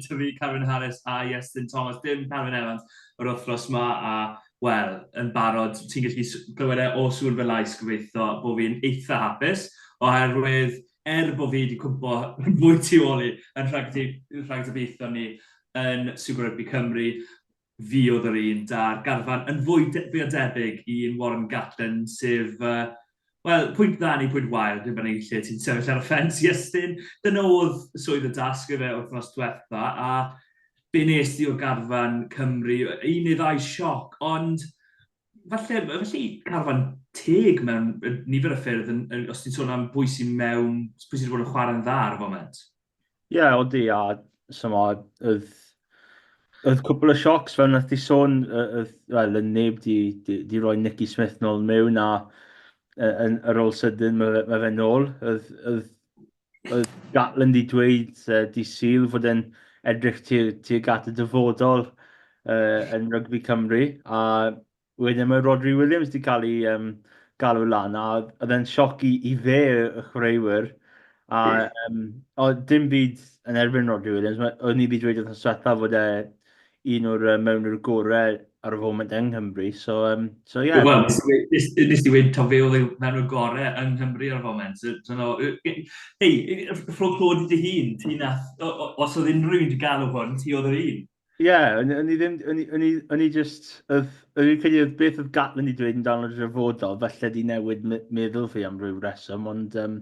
gyda fi, Carwyn Harris a Iestyn Thomas, dim Carwyn Evans, yr wythnos ma, a wel, yn barod, ti'n gallu glywed e o sŵn fy lais gobeithio bod fi'n eitha hapus, oherwydd er bod fi wedi cwmpo fwy tu ôl i yn rhagdybiaethon ni yn Super Rugby Cymru, Fuodd yr un 'da'r garfan yn fwy fwy o debyg i un Warren Gatland, sef, wel, pwynt dda neu pwynt wael, dim yn lle ti'n sefyll ar y ffens, Iestyn. Dyna oedd swydd y dasg gyda fe wythnos diwetha, a be nes di o garfan Cymru? Un neu ddau sioc, ond falle, felly carfan teg mewn nifer o ffyrdd, yn, yn, os ti'n sôn am bwy sy'n mewn, pwy sydd wedi bod yn chwarae'n dda ar y foment? Ie, odi, a chimod, oedd oedd cwpl o siocs fel wnaeth ti sôn, yy, oedd, wel, oedd neb 'di 'di 'di rhoi Nicky Smith nôl mewn a yy yn ar ôl sydyn ma' fe ma' fe nôl. Oedd oedd oedd Gatland 'di dweud yy dydd Sul fod e'n edrych tu- tuag at y dyfodol yy yn rygbi Cymru a Wedyn mae Rhodri Williams 'di cael ei yym galw lan a oedd e'n sioc i i fe y chwaraewyr a yym oedd dim byd yn erbyn Rhodri Williams ma' o'n i 'di dweud wythnos diwetha fod e un o'r yy mewnwyr gorau ar y foment yng Nghymru so yym so ie. Wel nes i we- nes nes i weud taw fe oedd y mewnwr gore yng Nghymru ar y foment so so no yy yy hei yy ff- ffwc lwc i dy hun ti nath o- o- os oedd unrhyw un 'di galw hwn ti oedd yr un. Ie, o'n o'n i ddim... o'n i o'n i o'n i jyst... oedd... o'n i'n credu oedd beth oedd Gatland wedi dweud amdano fo'n hanfodol, falle 'di newid me- meddwl fi am ryw reswm, ond yym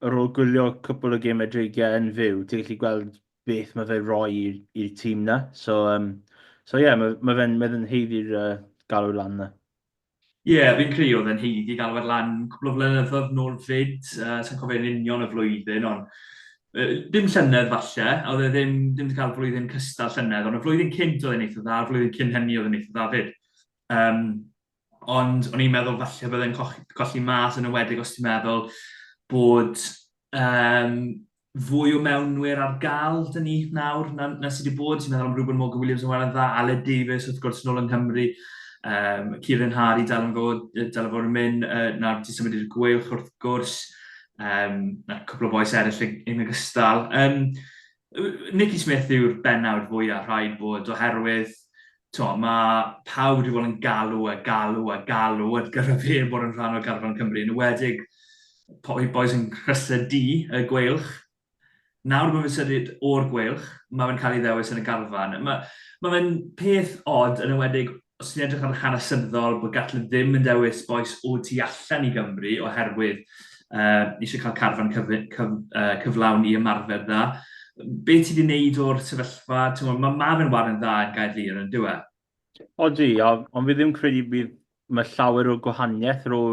ar ôl gwylio cwpwl o gemau dreigiau yn fyw, ti'n gallu gweld beth mae fe'n rhoi i'r i'r tîm 'na. So yym so ie, ma' ma' fe'n ma' fe'n haeddu'r yy galw lan 'na. Ie, fi'n credu oedd e'n haeddu galwad lan cwpl o flynyddoedd nôl 'fyd, yy sa i'n cofio yn union y flwyddyn ond yy dim llynedd falle, a oedd e ddim ddim 'di ca'l flwyddyn cystal llynedd ond y flwyddyn cynt oedd e'n eitha dda, flwyddyn cyn hynny oedd e'n eitha dda 'fyd. Yym ond o'n i'n meddwl falle bydde'n coch- colli mas yn enwedig os ti'n meddwl bod yym fwy o mewnwyr ar gael dyn ni nawr na, na sydd wedi bod. Ti'n meddwl am Reuben Morgan Williams yn wael yn dda, Aled Davies wrth gwrs yn ôl yng Nghymru, um, Kieran Harry dal yn fod, dal yn fod yn mynd, uh, nawr ti'n symud i'r gwylch wrth gwrs, um, na cwpl o boes eraill yn ogystal. Um, Nicky Smith yw'r benawd fwyaf rhaid bod oherwydd T'mo, mae pawb wedi bod yn galw a galw a galw ar gyfer fe bod yn rhan o garfan Cymru, yn enwedig y bois yn Nhrysau Du, y Gweilch. Nawr bod fe'n symud o'r Gweilch, mae fe'n cael ei ddewis yn y garfan. Mae, mae fe'n peth od, yn enwedig os ti'n edrych ar yr hanesyddol, bod Gatland ddim yn dewis bois o tu allan i Gymru oherwydd uh, eisiau cael carfan cyf, cyf, uh, cyflawn i ymarfer dda. Be ti wedi wneud o'r sefyllfa? Mae ma fe'n warin dda yn gael lir yn dweud? E? O di, ond fi ddim credu bydd mae llawer o gwahaniaeth rho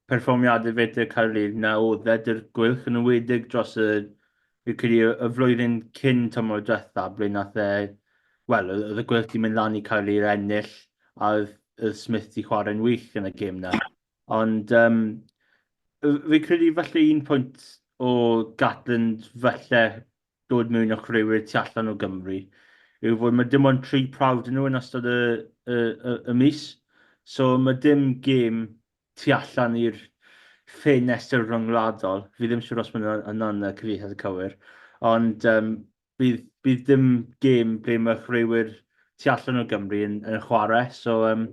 perfformiadau fetr Caerlid na o ddedr gwylch yn ymwedig dros y, fi credu, y flwyddyn cyn tymor diwetha, ble nath e, wel, oedd y gwylch di mynd lan i Caerlid ennill a oedd Smith di chwarae'n wych yn y gêm na. Ond yym fi'n credu falle un pwynt o Gatland falle dod mewn â chwaraewyr tu allan o Gymru yw fod ma' dim ond tri prawf 'da nhw yn ystod y y y y mis. So ma' dim gêm tu allan i'r ffenestr ryngwladol. Fi ddim siŵr os ma' hwnna hwnna'n yy cyfieithiad cywir. Ond yym Bydd bydd dim gêm ble mae chwaraewyr tu allan o Gymru yn yn chwarae, so yym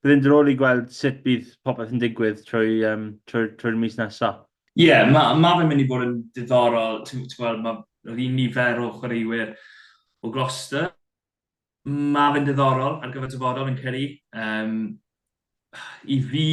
bydd e'n diddorol i gweld sut bydd popeth yn digwydd trwy yym trwy trwy'r mis nesa. Ie, ma' ma' fe'n mynd i fod yn diddorol, ti'n ti'n gweld, ma' yr un nifer o chwaraewyr o Gloucester, Mae fe'n ddiddorol ar gyfer dyfodol yn credu. Um, I fi,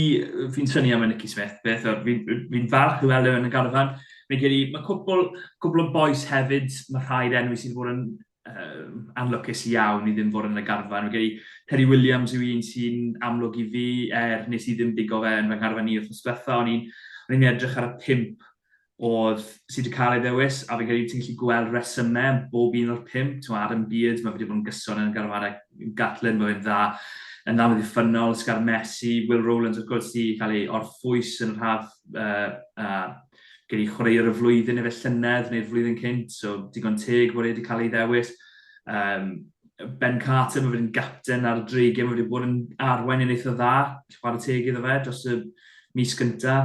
fi'n syni am y Nicky Smith, beth o'r, fi'n fi, fi falch i weld yn y garfan. Fi'n credu, mae cwpl, cwpl o boes hefyd, mae rhaid enw sydd wedi bod yn um, anlwcus iawn i ddim fod yn y garfan. Fi'n credu, Terry Williams yw un sy'n amlwg i fi, er nes i ddim digo fe yn fy ngharfan i wrth ysbletha, o'n i'n edrych ar y pimp oedd, sydd wedi cael ei ddewis, a fi'n credu ti'n gallu gweld resymau yn bob un o'r pump. Ti'n gwybod, Adam Beard, mae wedi bod yn gyson yn y garfanau, Gatlin, mae fe'n dda, yn dda, wedi ffynol, Scar Messi, Will Rowlands, wrth gwrs, wedi cael ei orffwys yn yr haf, uh, uh, gen i chwaraewr y flwyddyn efe llynedd neu'r flwyddyn cynt, so digon teg bod e wedi cael ei ddewis. Um, Ben Carter, mae wedi'n gapten ar y dreigiau, mae wedi bod yn arwain yn eitha dda, chwarae teg iddo fe dros y mis gynta.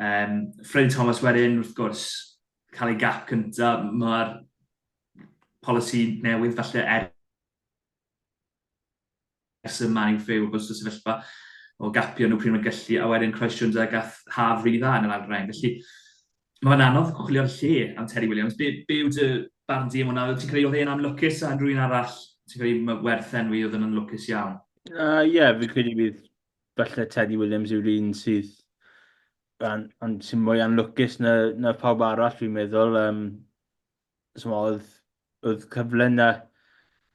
Um, Freddie Thomas wedyn, wrth gwrs, cael ei gap cynta, mae'r polisi newydd falle er ers y man i'w ffew o bwys o sefyllfa o gapio nhw pryd mae'n gallu, a wedyn Croes Jones a gath haf rili dda yn yr ail rhain. Felly, Mae fe'n anodd chwilio'r lle am Terry Williams. Be, be yw dy barn di am hwnna? Ti'n credu oedd e'n anlwcus a rhywun arall? Ti'n credu mae werth enwi oedd yn anlwcus iawn? Ie, uh, yeah, fi'n credu bydd falle Teddy Williams yw'r un sydd an, an, sy'n mwy anlwcus na, na pawb arall, fi'n meddwl. Um, chimod, oedd oedd cyfle 'na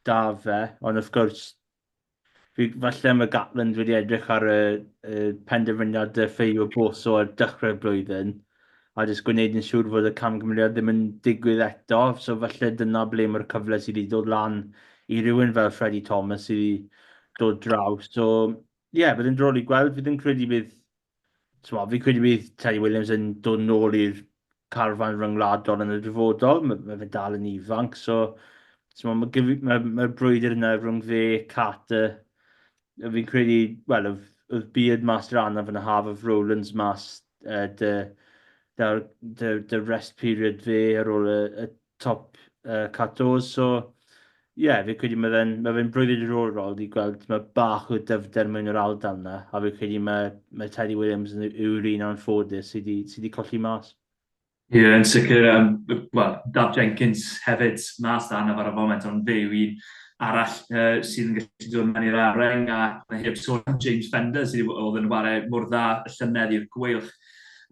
'da fe, ond wrth gwrs fi... falle mae Gatland wedi edrych ar y y penderfyniad de ffeio Bosso ar dechrau'r blwyddyn, a jyst gwneud yn siŵr fod y camgymeriad ddim yn digwydd eto, so falle dyna ble mae'r cyfle sydd wedi dod lan i rywun fel Freddie Thomas i dod draw. So ie, bydd yn droll i gweld. Fi ddim credu bydd Timo, fi'n credu bydd Teddy Williams yn dod nôl i'r carfan ryngwladol yn y dyfodol. Mae ma fe dal yn ifanc, so mae'r ma, ma brwydr yna rhwng fe, Carter, fi'n credu, wel, oedd Beard mas dran anaf yn y haf, oedd Rowlands mas uh, dy, dy, dy, dy rest period fe ar ôl y, y top uh, Catos. So, ie, yeah, fi'n credu mae fe'n ma fe brwyddyn diddorol i gweld mae bach o dyfder mewn yr aldal yna, a fi'n credu mae, mae Teddy Williams yn yw'r un o'n ffodus sydd wedi sy colli mas. Ie, yeah, yn sicr, um, well, Daf Jenkins hefyd mas da yna ar y foment, ond fe yw un arall uh, sydd yn gallu dod mewn i'r areng a mae heb sôn am James Fender sydd oedd yn wario mor dda y llynedd i'r gweilch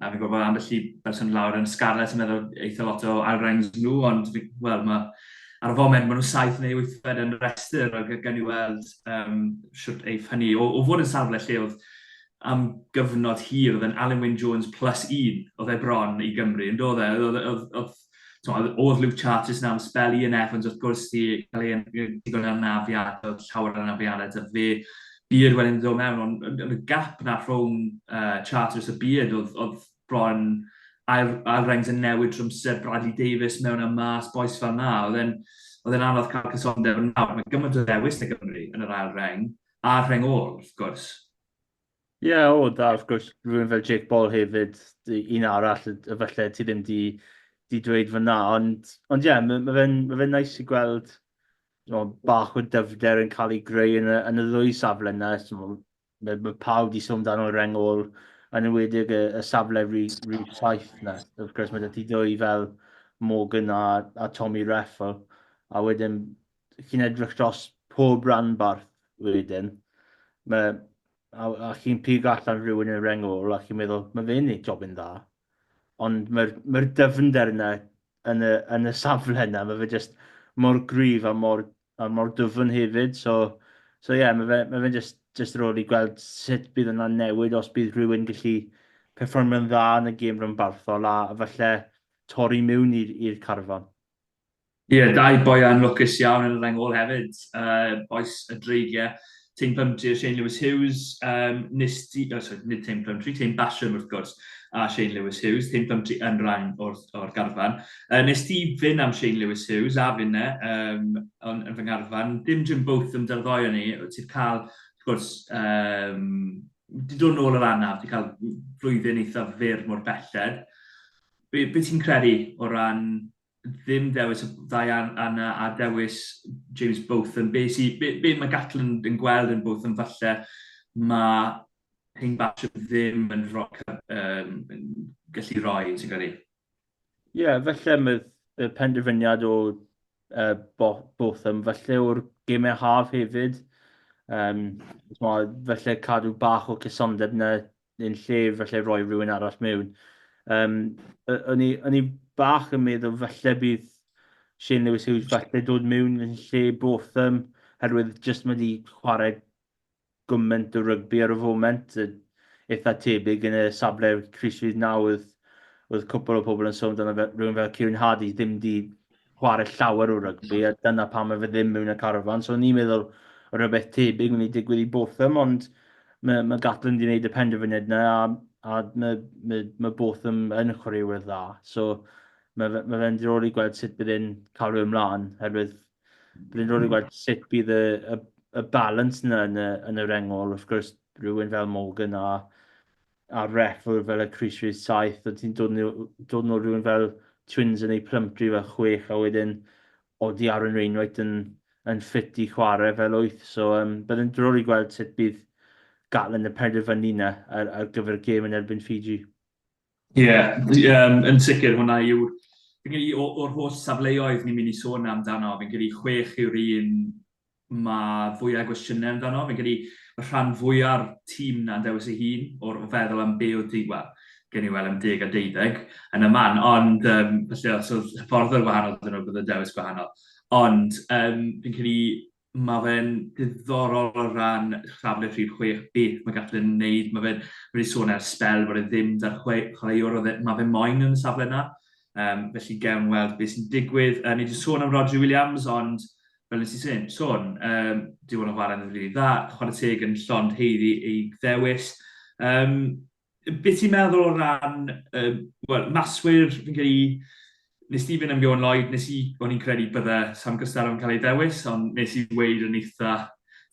A fi'n gwybod ambell i berson lawr yn Scarlets yn meddwl eitha lot o ail-rangs nhw, ond wel, ma, ar y foment maen nhw saith neu wythfed yn rhestr, ac gen i weld um, siwt eiff hynny. O, o fod yn safle lle oedd am gyfnod hir, oedd yn Alan Wyn Jones plus un, oedd e bron i Gymru, yn dod e? Oedd, oedd, oedd, oedd Luke Chartis nawr yn spel Ian Evans wrth gwrs di cael ei ddigon yn anafiad, oedd llawer yn anafiadau da fe. Beard wedyn ddod mewn, ond yn y gap na rhwng uh, Chartis a Beard oedd, oedd bron ail, ail rengs yn newid trwmser Bradley Davis mewn a mas, boes fel na. Oedd e'n oedd e'n anodd cael cysondeb yn nawr. Mae gymaint o ddewis na Gymru yn yr ail reng, a'r reng ôl, wrth gwrs. Ie, o, da, wrth gwrs, rhywun fel Jake Paul hefyd, un arall y falle ti ddim di, di dweud fyna, ond, ond ie, mae ma fe'n ma fe nais i gweld no, bach o dyfnder yn cael ei greu yn y, yn y ddwy safle yna. So, mae, mae pawb di sôn dan o'r rengol, yn ymwedig y, y safle rhi, rhi saith yna. Wrth gwrs, mae ti ddwy fel Morgan a, a Tommy Reffel, a wedyn chi'n edrych dros pob ranbarth wedyn, mae, a, a chi'n pigo allan rhywun yn rengol, a chi'n meddwl, mae fe'n ei job yn dda. Ond mae'r mae dyfnder yna yn y, yn y safle yna, mae fe jyst mor gryf a mor, a mor dyfn hefyd. So, so yeah, mae fe'n mae fe jyst, jyst rôl i gweld sut bydd yna'n newid os bydd rhywun gallu perfformio'n dda yn y gêm rhanbarthol a falle torri mewn i'r carfan. Ie, dau boi anlwcus iawn yn y reng ôl hefyd, bois y Dreigiau, Teim Plumtree a Shane Lewis Hughes. Yym, nes di... O, sori, nid Teim Plumtree, Teim Basham wrth gwrs, a Shane Lewis Hughes. Teim Plumtree yn rhan o'r, o'r garfan. Yy, nes di fyn am Shane Lewis Hughes, a finne, yym, yn, yn fy ngarfan. Dim Jim Botham da'r ddoi o ni, wyt ti'n cael, wrth gwrs, yym, di dod nôl yr anaf, di cael flwyddyn eithaf fyr mor belled. Be, be ti'n credu o ran ddim dewis y ddau arna a dewis James Botham. Be, si, be, be mae Gatland yn gweld yn Botham falle, mae Hein Basham ddim yn roc um, gallu roi, ti'n gwneud? Ie, yeah, felly mae y penderfyniad o uh, Botham, felly o'r gemau haf hefyd, um, felly cadw bach o cysondeb na yn lle falle roi rhywun arall mewn. Um, o'n, i, o'n i bach yn meddwl falle bydd Shane Lewis Hughes falle dod mewn yn lle Botham, herwydd jyst mae wedi chwarae gymaint o rygbi ar y foment, eitha tebyg yn y safle Chris Reid nawr, oedd, oedd cwpl o pobl yn sôn amdano rhywun fel Kieran Hardy ddim wedi chwarae llawer o rygbi, a dyna pam mae fe ddim mewn y carafan. So ni'n meddwl rhywbeth tebyg mynd i digwydd i Botham, ond mae, mae Gatlin wedi gwneud y penderfyniad yna, a, a mae, mae, mae Botham yn chwaraewyr dda. So mae, fe, mae fe'n ddiddorol i gweld sut bydd e'n cael ei ymlaen, herwydd bydd e'n ddiddorol i gweld sut bydd y, y, y balans yna yn y, yn y rengol, wrth gwrs, rhywun fel Morgan a a ref oedd fel y Chris Reeves 7 oedd ti'n dod nhw, dod nhw rhywun fel Twins yn ei Plumtree fel 6 a wedyn oedd i Aaron Wainwright yn, yn ffit i chwarae fel 8 so um, bydd yn drwr i gweld sut bydd Gatland yn penderfynu yna ar, ar gyfer y gêm yn erbyn Fiji. Ie, yeah, um, yn sicr hwnna yw fi'n credu o'r holl safleoedd ni'n mynd i sôn amdano, fi'n credu chwech yw'r un mae fwyau gwestiynau amdano. Fi'n credu y rhan fwya'r tîm 'na yn dewis ei hun o o feddwl am be' odd di- wel, gewn ni wel' am deg a deuddeg yn y man ond yym felly os odd hyfforddwr wahanol 'da nw bydde dewis gwahanol. Ond yym fi'n credu ma' fe'n diddorol o ran safle rhif chwech beth ma' Gatland yn neud ma' fe'n ma' wedi sôn ers sbel bod e ddim 'da'r chwe- chwaraewr odd e ma' fe moyn yn y safle 'na. Yym felly gewn weld be' sy'n digwydd. Yy ni 'di sôn am Rhodri Williams ond fel nes i sôn, um, di hwn yn chwarae'n rili dda, chwarae teg yn llond heiddi ei ddewis. Um, beth ti'n meddwl o ran, um, well, maswyr, fi'n cael ei, nes di fynd am Johan Lloyd, nes i, o'n i'n credu bydde Sam Gystar yn cael ei ddewis, ond nes i weid yn eitha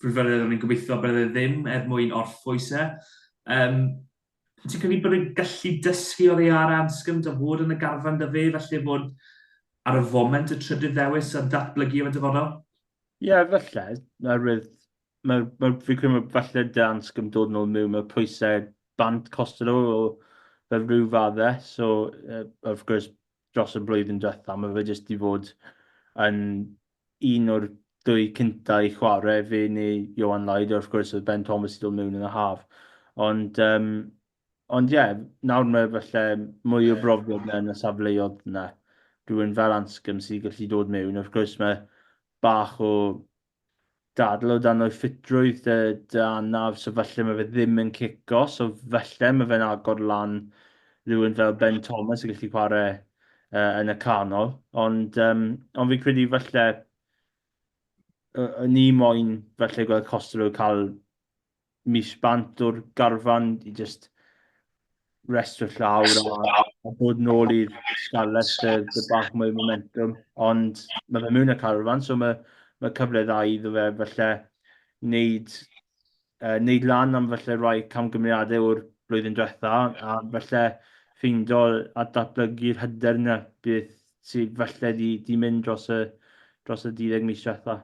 frwdfyredd o'n i'n gobeithio bydde ddim er mwyn orffwys e. Um, Wyt ti'n credu bod y gallu dysgu oddi ar Anscombe a fod yn y garfan 'da fe, falle fod ar y foment y trydydd ddewis a datblygu yn y dyfodol? Ie, falle. Oherwydd, mae, mae, fi'n credu mae falle da Anscombe dod yn ôl mewn, mae pwysau bant Costello o fel rhyw faddau, so uh, wrth gwrs dros y blwyddyn diwetha, mae fe jyst 'di fod yn un o'r dwy cynta i chwarae, fe neu Johan Lloyd, wrth gwrs oedd Ben Thomas 'di dod mewn yn y haf. Ond um, ond ie, nawr mae falle mwy o brofiad na yn y safleoedd yna. Rwy'n fel Anscombe sy'n gallu dod mewn. Wrth gwrs mae bach o Dadl o dan dy ffitrwydd dy dy anaf so falle mae fe ddim yn cico so falle mae fe'n agor lan rhywun fel Ben Thomas yn gallu chwarae uh, yn y canol ond um, ond fi'n credu falle o'n i moyn falle gweld Costello cael mis bant o'r garfan i just restio llaw a, a bod nôl i'r Scarlets lle dy bach mwy momentum. Ond mae fe mewn y carfan, so mae, mae cyfle dda iddo fe falle wneud, uh, wneud lan am falle rhai camgymeriadau o'r blwyddyn diwetha a falle ffeindo a datblygu'r hyder yna beth sydd falle di, di mynd dros y, dros y 12 mis diwetha.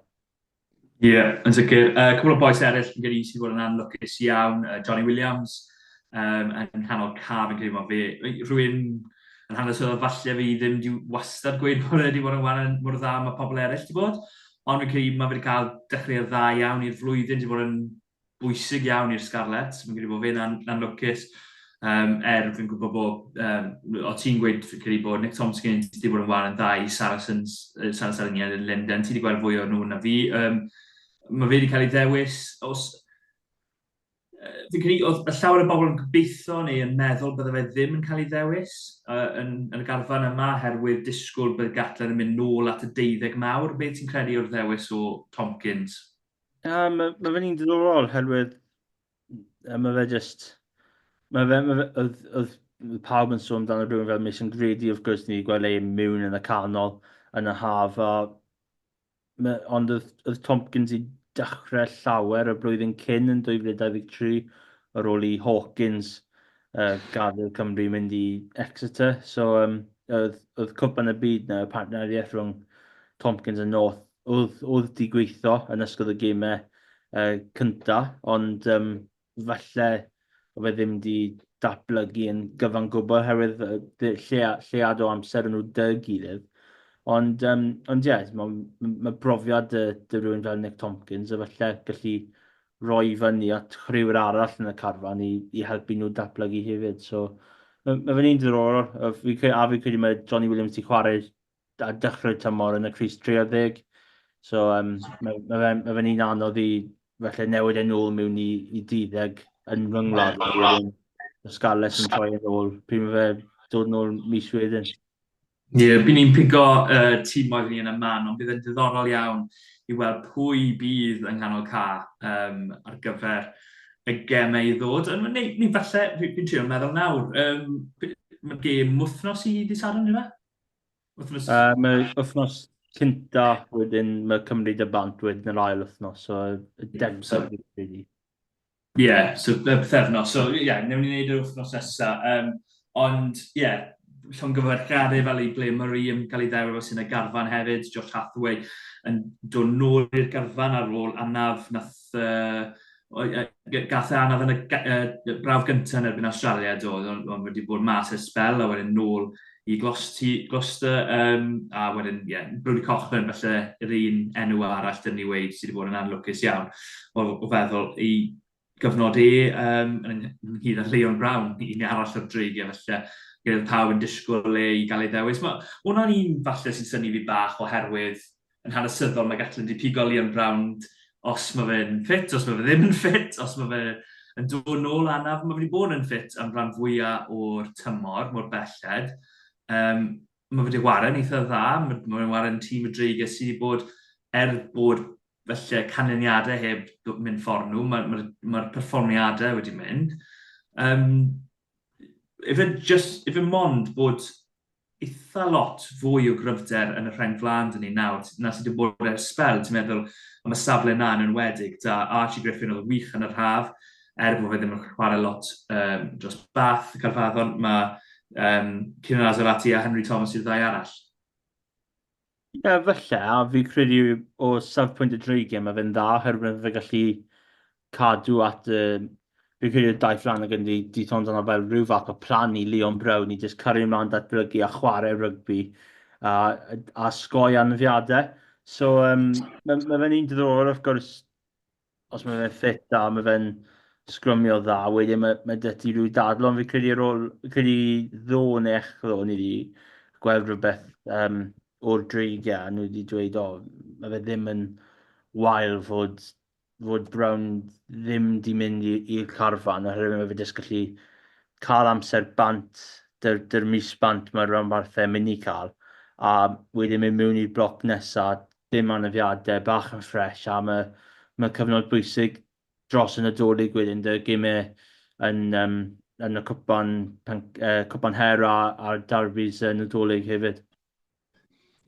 Ie, yn sicr. Yy, cwpwl o bois eryll fi'n credu sydd wedi bod yn anlwcus iawn, yy, Jonny Williams, yym, yn nghanol caf fi'n credu ma' fe yy rhywun yn hanesyddol falle fydd ddim 'di wastad gweud bod e 'di bod yn ware mor dda â ma' pobl eryll 'di bod, ond fi'n credu ma' fe 'di ca'l dechreuad dda iawn i'r flwyddyn, 'di bod yn bwysig iawn i'r Scarlets. Fi'n credu bod fe na'n na lwcus. Um, er, fi'n gwybod bod, um, o ti'n gweud, fi'n credu bod Nick Tomskin wedi bod yn wael yn dda i Saracens, uh, Saracens yn Linden. Ti wedi gweld fwy o nhw na fi. Um, mae fe wedi cael ei ddewis. Os, uh, fi'n credu, oedd y llawer o bobl yn gobeithio neu yn meddwl bydde fe ddim yn cael ei ddewis uh, yn, yn y garfan yma, herwydd disgwyl bydd Gatland yn mynd nôl at y deuddeg mawr. Beth ti'n credu o'r ddewis o Tomkins? Na, ma' ma' fe'n un diddorol oherwydd yy ma' fe jyst ma' fe ma' fe oedd oedd oedd pawb yn sôn amdano rhywun fel Mason Grady wrth gwrs ni 'di gweld e mewn yn y canol yn y haf a ma' ond oedd oedd Tompkins i dechrau llawer y blwyddyn cyn yn 2023 ar ôl i Hawkins yy gadael Cymru mynd i Exeter so yym oedd oedd Cwpan y Byd 'na partneriaeth rhwng Tompkins a North Oedd, oedd di gweithio yn ysgol y gemau uh, cynta, ond um, falle o fe ddim di datblygu yn gyfan gwbl oherwydd llead o amser yn nhw dy gilydd. Ond, um, ond ie, mae ma brofiad dy, dy rhywun fel Nick Tompkins a falle gallu roi fyny at rhywun arall yn y carfan i, i helpu nhw datblygu hefyd. So, mae ma fe'n un diddorol, a fi'n credu mae Johnny Williams wedi chwarae ar dechrau'r tymor yn y crys 30. So, um, mae, mae fe'n mae fe un anodd i felly newid e'n ôl mewn i, i 30 yn fy ngwlad. Y Scarlets yn troi yn ôl. Pryd mae fe dod yn ôl mis wedyn? Ie, yeah, bydd ni'n pigo uh, tîm oedd ni yn y man, ond bydd yn diddorol iawn i weld pwy bydd yng nghanol ca um, ar gyfer y gemau i ddod. Neu, neu falle, fi'n trio meddwl nawr, um, mae gêm wythnos i ddi Sadwrn, yna? Wythnos... Yy mae wythnos cynta, wedyn mae Cymru dy bant wedyn yr ail wythnos, so y degfed dwi'n credu. Ie, yeah, so y bythefnos, so ie, yeah, newn ni wneud yr wythnos nesa, um, ond ie, yeah, llongyfarchiadau fel i ble Murray yn cael ei ddewr fel sy'n y garfan hefyd, Josh Hathaway yn dod nôl i'r garfan ar ôl anaf, nath uh, gath e anaf yn y, y brawf gyntaf yn erbyn Australia do, ond on wedi bod mas ers spel a wedyn nôl i Gloucester um, a wedyn, ie, yeah, Brody Cochran felly yr un enw arall dyn ni wedi sydd wedi bod yn anlwcus iawn o, o feddwl i gyfnod e um, yn ynghyd â Leon Brown, un arall o'r dreigiau felly gyda pawb yn disgwyl le i gael ei ddewis. Mae hwnna'n un falle sy'n syni fi bach oherwydd yn hanesyddol, mae Gatlin wedi pigo Liam Brownd os mae fe'n ffit, os mae fe ddim yn ffit, os mae fe yn dod nôl anaf, mae wedi bod yn ffit am rhan fwyaf o'r tymor, mor belled. Um, mae wedi ware'n eitha dda, mae wedi ware'n tîm y dreigiau sydd wedi bod, er bod felly canlyniadau heb mynd ffordd nhw, mae'r ma, ma, ma perfformiadau wedi mynd. Um, efe, just, efe mond bod eitha lot fwy o gryfder yn y rheng flaen 'da ni nawr na sydd wedi bod ers sbel, ti'n meddwl am y safle 'na yn enwedig 'da Archie Griffin oedd yn wych yn yr haf, er bod fe ddim yn chwarae lot um, dros Bath, Caerfaddon, mae um, Kieran Azarati a Henry Thomas yw'r ddau arall. Ie, falle, a fi'n credu o safpwynt y dreigiau mae fe'n dda oherwydd mae fe gallu cadw at y... Fi'n credu y daith lan ac yn di, di sôn amdano fel rhyw fath o plan i Leon Brown i jyst cario ymlaen datblygu a chwarae rygbi a, a sgoi anafiadau. So um, mae, mae fe'n un diddorol wrth gwrs os mae fe'n ffit dda, mae fe'n sgrymio dda, wedyn mae, mae dy ti rhyw dadl, ond fi'n credu ar ôl, fi'n credu ddo neu echdo, ni wedi gweld rhywbeth um, o'r dreigiau, nhw wedi dweud, o, mae fe ddim yn wael fod, fod Brown ddim di mynd i'r carfan, oherwydd mae fe jyst gallu cael amser bant, dy'r, dyr mis bant mae'r rhanbarthau mynd i cael, a wedyn mynd mewn i'r bloc nesaf, Dim anafiadau, bach yn ffresh a mae mae'n cyfnod bwysig dros y Nadolig wedyn 'da gemau yn yym yn y cwpan pen- yy cwpan her a a'r derbis y Nadolig hefyd.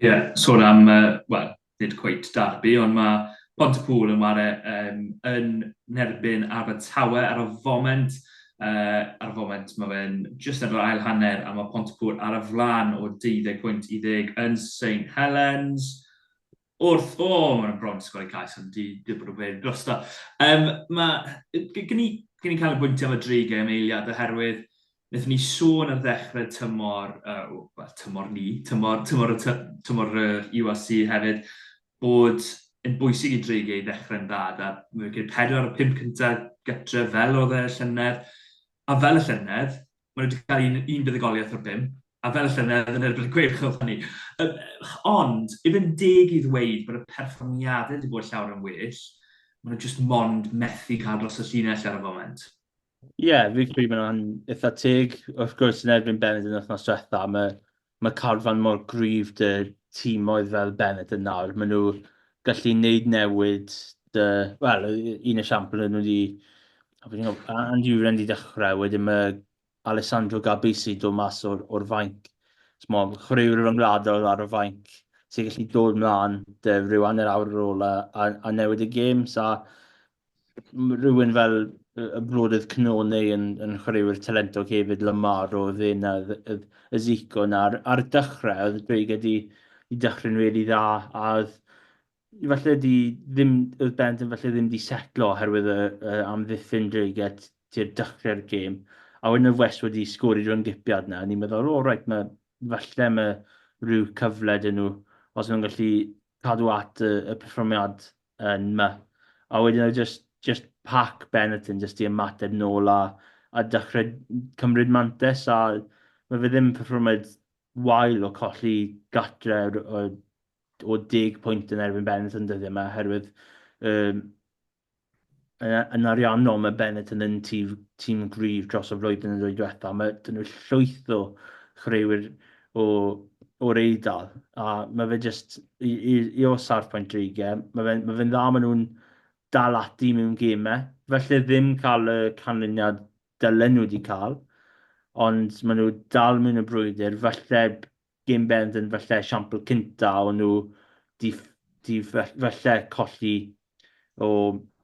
Ie, sôn am yy wel, nid cweit derby ond mae Pontypŵl yn ware yym yn nerbyn Abertawe ar y foment Ar y foment, mae fe'n jyst ar yr ail hanner a mae Pontypŵr ar y flaen o 20 pwynt i ddeg yn Saint Helens. Wrth, o, mae'n bron yn sgori cais ond di, di bod yn wir drosto. Um, mae, gen i, gen i cael y bwynt am y dri gem eiliad oherwydd Nethon ni sôn ar ddechrau tymor, uh, well, tymor ni, tymor, tymor, y tymor yr UAC hefyd, bod yn bwysig i Dreigiau ddechrau'n dda gyda wicket pedwar o'r pump cyntaf gytre fel oedd e y llynedd a fel y llynedd maen nhw wedi cael un, un buddugoliaeth o'r pump a fel y llynedd yn erbyn y Gweilch oedd hynny. Yym, ond, i fynd deg i ddweud bod y perfformiadau wedi bod llawer yn well, maen nhw jyst mond methu cael dros y llinell ar y foment. Ie, fi'n credu bod hwnna'n eitha teg. Wrth gwrs, yn erbyn Bennett yn wythnos diwetha, mae ma carfan mor gryf 'da timoedd fel Bennett yn nawr. Maen nhw gallu gwneud newid dy... Wel, un esiampl oedd nhw wedi... o, fi'n gwybod, a- Andy Uren wedi dechrau, wedyn mae Alessandro Gabisi dod mas o'r o'r fainc. Mo, chwaraewr ryngwladol ar y fainc sy'n gallu dod mlaen 'da ryw hanner awr ar ôl a a a newid y gêm. So rhywun fel y brodydd Cnone yn, yn chwaraewyr talentog hefyd, Lamar o ddyn a y Zico yna. Ar, ar dechrau, oedd Dweig wedi i dechrau'n rili dda, a oedd falle di ddim, oedd bent yn falle ddim di setlo oherwydd y, y amddiffyn Dweig at ti'r dechrau'r gêm. A wedyn oedd West wedi sgori drwy'n gipiad yna, a ni'n meddwl, o, oh, reit, mae, falle mae rhyw cyfle dyn nhw, os nhw'n gallu cadw at y, y perfformiad yn ma. A wedyn oedd just, just pac Benetton just i ymateb nôl a, a dechrau cymryd mantes a mae fe ddim perfformiad wael o colli gatre o, o deg pwynt yn erbyn Benetton dyddiau yma oherwydd um, Yn ariannol, mae Benetton yn tîm gryf dros y flwyddyn ddwy diwethaf. Mae dyn nhw llwyth o chwaraewyr o'r Eidal, a mae fe jyst i ôl safpwynt Drege, mae fe'n dda, maen nhw'n dal ati mewn gemau, falle ddim cael y canlyniad dylen nhw wedi cael, ond maen nhw dal mewn y brwydr, falle Game Bend yn falle esiampl cynta o nhw 'di di falle colli o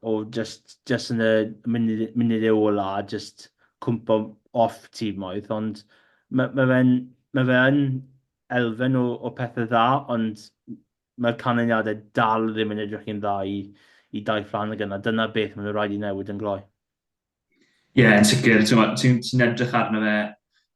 o jyst jyst yn y munud munude ola a jyst cwmpo off timoedd ond ma' ma' fe'n ma' fe yn elfen o o pethe dda ond mae'r canlyniade dal ddim yn edrych yn dda i i Dair Fflanagan a dyna beth ma' nhw raid i newid yn gloi. Ie, yn sicr. Ti'n ti, ti edrych arno fe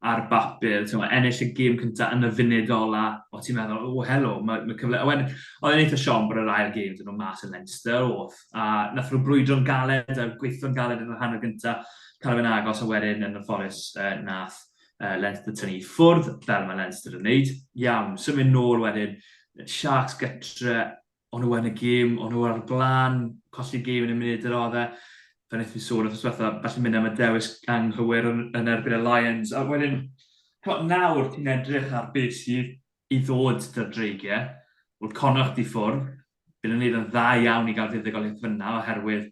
ar bapur, ti'n ennill y gêm cyntaf yn y funud ola, o ti'n meddwl, o helo, mae, mae cyfle... A wedyn, oedd e'n eitha siom bod yr ail gêm dyn nhw'n mas yn Leinster, oedd, a nath nhw brwydro'n galed a gweithio'n galed yn yr hanner gyntaf, cael fe'n agos, a wedyn yn y fforus uh, nath uh, Leinster tynnu ffwrdd, fel mae Leinster yn neud. Iawn, symud nôl wedyn, Sharks gytre, o'n nhw yn y gêm, o'n nhw ar y blaen, colli gêm yn y munud yr oedd e. Fe wnaeth ni sôn wrth yswetha, felly mynd am y dewis anghywir yn, yn erbyn y Lions. A wedyn, cymod, nawr ti'n edrych ar beth sydd i ddod dy'r dreigiau. Wrth connoch di ffwrdd, bydd yn neud yn dda iawn i gael fuddugoliaeth fyna oherwydd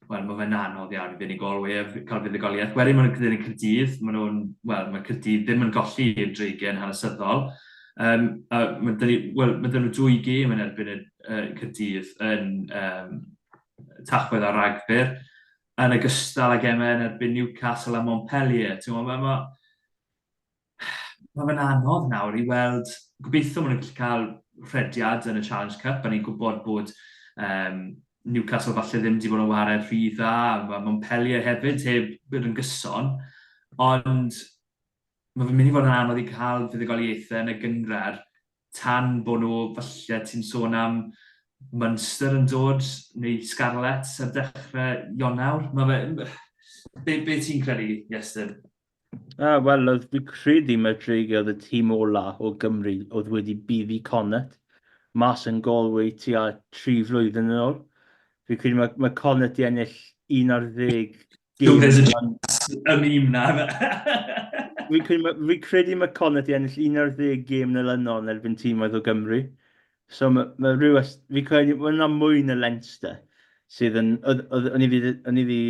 wel, mae fe'n anodd iawn i fuddugolwyr cael fuddugoliaeth. Wedyn maen nhw'n cyda'n Cyrdydd, maen nhw'n, wel, mae Cyrdydd ddim yn golli i'r dreigen hanesyddol. Um, a mae dyn ni, wel, mae dyn nhw dwy gêm yn erbyn y uh, Cyrdydd yn um, tachwedd ar ragfyr, yn ogystal ag emau yn erbyn Newcastle a Montpellier. Mae ma, Mae fe'n anodd nawr i weld, gobeithio maen nhw'n gallu cael rhediad yn y Challenge Cup, a ni'n gwybod bod um, Newcastle falle ddim wedi bod yn wared rhy dda, mae Montpellier hefyd heb bod yn gyson, ond mae fe'n mynd i fod yn anodd i cael fuddugoliaethau yn y gyngrair tan bod nhw, falle ti'n sôn am Munster yn dod, neu Scarlets ar dechrau Ionawr. Mae fe... Be, be ti'n credu, Iestyn? A, wel, oedd fi credu mae'r dreigiau oedd y tîm ola o Gymru oedd wedi buddi Connet mas yn Galway tua tri flwyddyn yn ôl. Fi credu mae, mae Connet i ennill 11 gym. Yn un na. Fi credu, mae, fi credu mae Connet i ennill 11 gym yn ylynol yn erbyn tîm oedd o Gymru. So mae, mae rhyw, fi credu, mae yna mwy na Leinster sydd yn, oedd, oedd, o'n i wedi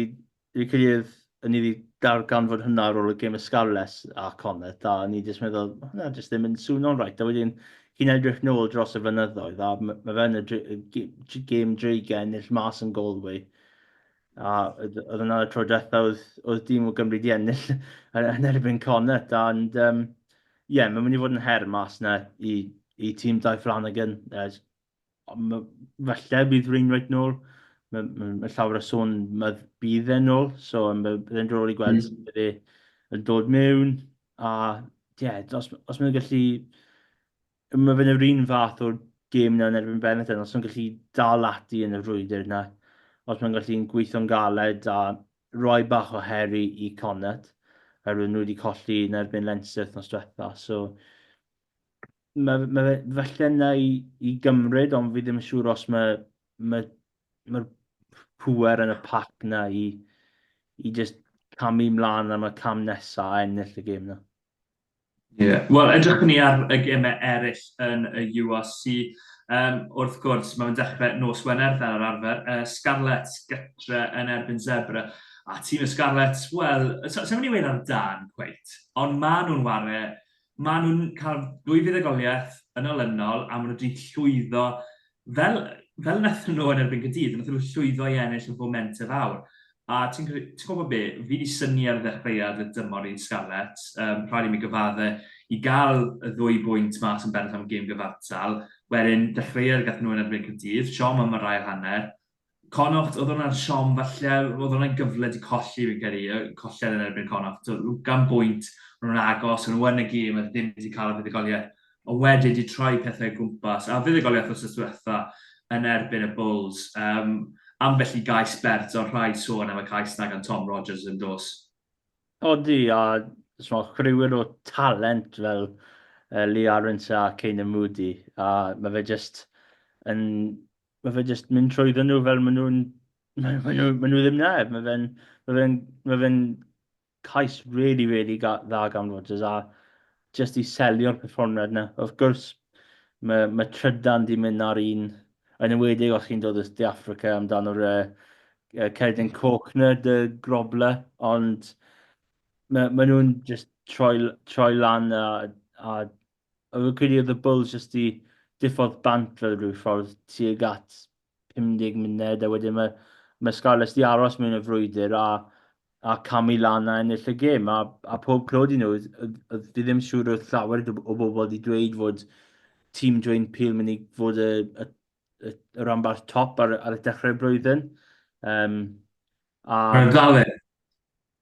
Dwi credu oedd ni wedi darganfod hwnna ar ôl y gêm y Scarlets a Comet, a ni jyst meddwl, ma' hwnna jyst ddim yn swno'n rhaid. A wedyn, chi'n edrych nôl dros y fynyddoedd, a m- ma' fe yn y dre- g- g- gêm dreigiau ennill mas yn Galway. A oedd oedd hwnna y tro diwetha oedd oedd dîm o Gymru 'di ennill yn yn erbyn Comet, and um, ie, mae'n mynd i fod yn her mas 'na i i tîm Dai Flanagan, uh, falle bydd Wainwright nôl. Mae, mae, mae llawer o sôn mae bydd e'n nôl, so byddai'n drol i gweld mm. sut bydd e'n dod mewn. A ie, yeah, os, os mae'n gallu... Mae fe'n yr un fath o'r gêm yna yn erbyn Benetton, os mae'n gallu dal ati yn y frwydr yna, os mae'n gallu'n gweithio'n galed a roi bach o heri i Connaught, oherwydd nhw wedi colli yn erbyn Leinster nos diwetha. So, Mae, mae fe falle na i, i gymryd, ond fi ddim yn siŵr os mae, mae, mae'r pwer yn y pac na i, i just camu mlaen am y cam nesa a ennill y gêm na. Ie, yeah. wel edrych ni ar y gemau eraill yn y URC. Um, wrth gwrs, mae'n dechrau nos Wener fel yr arfer. Uh, Scarlet gytre yn erbyn Zebra. A tîm y Scarlet, wel, sef so, so, ni wedi ar dan, cweit. Ond maen nhw'n ware Maen nhw'n cael dwy fuddugoliaeth yn olynol a maen nhw wedi llwyddo, fel, fel wnaethon nhw yn erbyn Cydydd, wnaethon nhw llwyddo i ennill y fomentau fawr. A ti'n ti gwybod be, fi wedi syni ar ddechreuad y dymor i'n Scarlets, um, rhaid i mi gyfadde i gael y ddwy bwynt mas yn bennaf am gêm gyfartal, wedyn dechreuad gath nhw yn erbyn Cydydd, siom am yr ail hanner, Connaught oedd hwnna yn siom falle, oedd hwnna'n gyfle 'di colli fi'n credu, colled yn erbyn Connaught, ugain bwynt, o'n nhw'n agos, o'n nhw yn y gêm, oedd ddim 'di cael y fuddugoliaeth, ond wedyn 'di troi pethau o gwmpas, a fuddugoliaeth wsos dwetha yn erbyn y Bulls, yym ambell i gais bert, ond rhaid sôn am y cais 'na gan Tom Rogers yn dos. Odi, a ch'mod chwriwr o talent fel yy Lee Arendse a Canan Moodie, a ma' fe jyst yn mae fe jyst mynd trwyddo nhw fel maen nhw'n... Maen nhw, maen nhw ddim na. Mae fe'n ma fe ma fe cais really, really ga, dda gan Rodgers a jyst i selio'r perfformiad yna. Wrth gwrs, mae, mae trydan di mynd ar un, yn ymwedig os chi'n dod o De Africa amdano'r uh, uh, cerdyn coch na, dy grobla, ond mae, ma nhw'n just troi, troi lan a, a Ond fi'n credu oedd y Bulls jyst i diffodd bant fel rhyw ffordd tuag at 50 munud a wedyn mae mae Scarlets di aros mewn y frwydr a a camu lan a ennill y gêm a, a pob clod i nhw. Fi ddim siŵr oedd llawer o bobl wedi dweud fod tîm Dwayne Peel mynd i fod y, y, y, y ranbarth top ar, ar y dechrau'r blwyddyn. Um, a... Mae'n galed.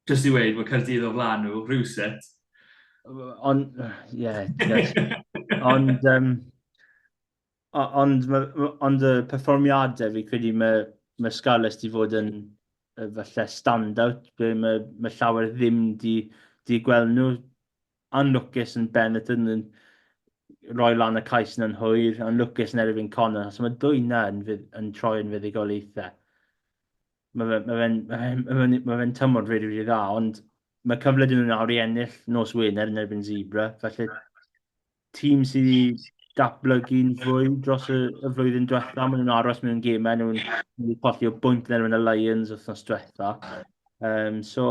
Jyst i weud, mae Caerdydd o flan nhw, rhywset. Ond, ie, ond, um, ond, ond y perfformiadau, fi credu mae, mae Scarlets di fod yn falle stand-out, mae, mae llawer ddim di, di gweld nhw anlwcus yn ben y dyn yn rhoi lan y cais yn anhwyr, anlwcus yn erbyn Connor, achos mae dwy na yn, yn troi yn fuddigoliaethau. Mae fe'n ma fe, ma fe, ma fe, ma fe tymor rili, rili dda, ond mae cyfle dyn nhw'n awr i ennill nos Wener yn erbyn Zebra, felly tîm sydd i datblygu'n fwy dros y, y flwyddyn diwetha, maen nhw'n aros mewn gemau, nhw'n colli o bwynt yn erbyn y Lions wythnos diwetha. Um, so,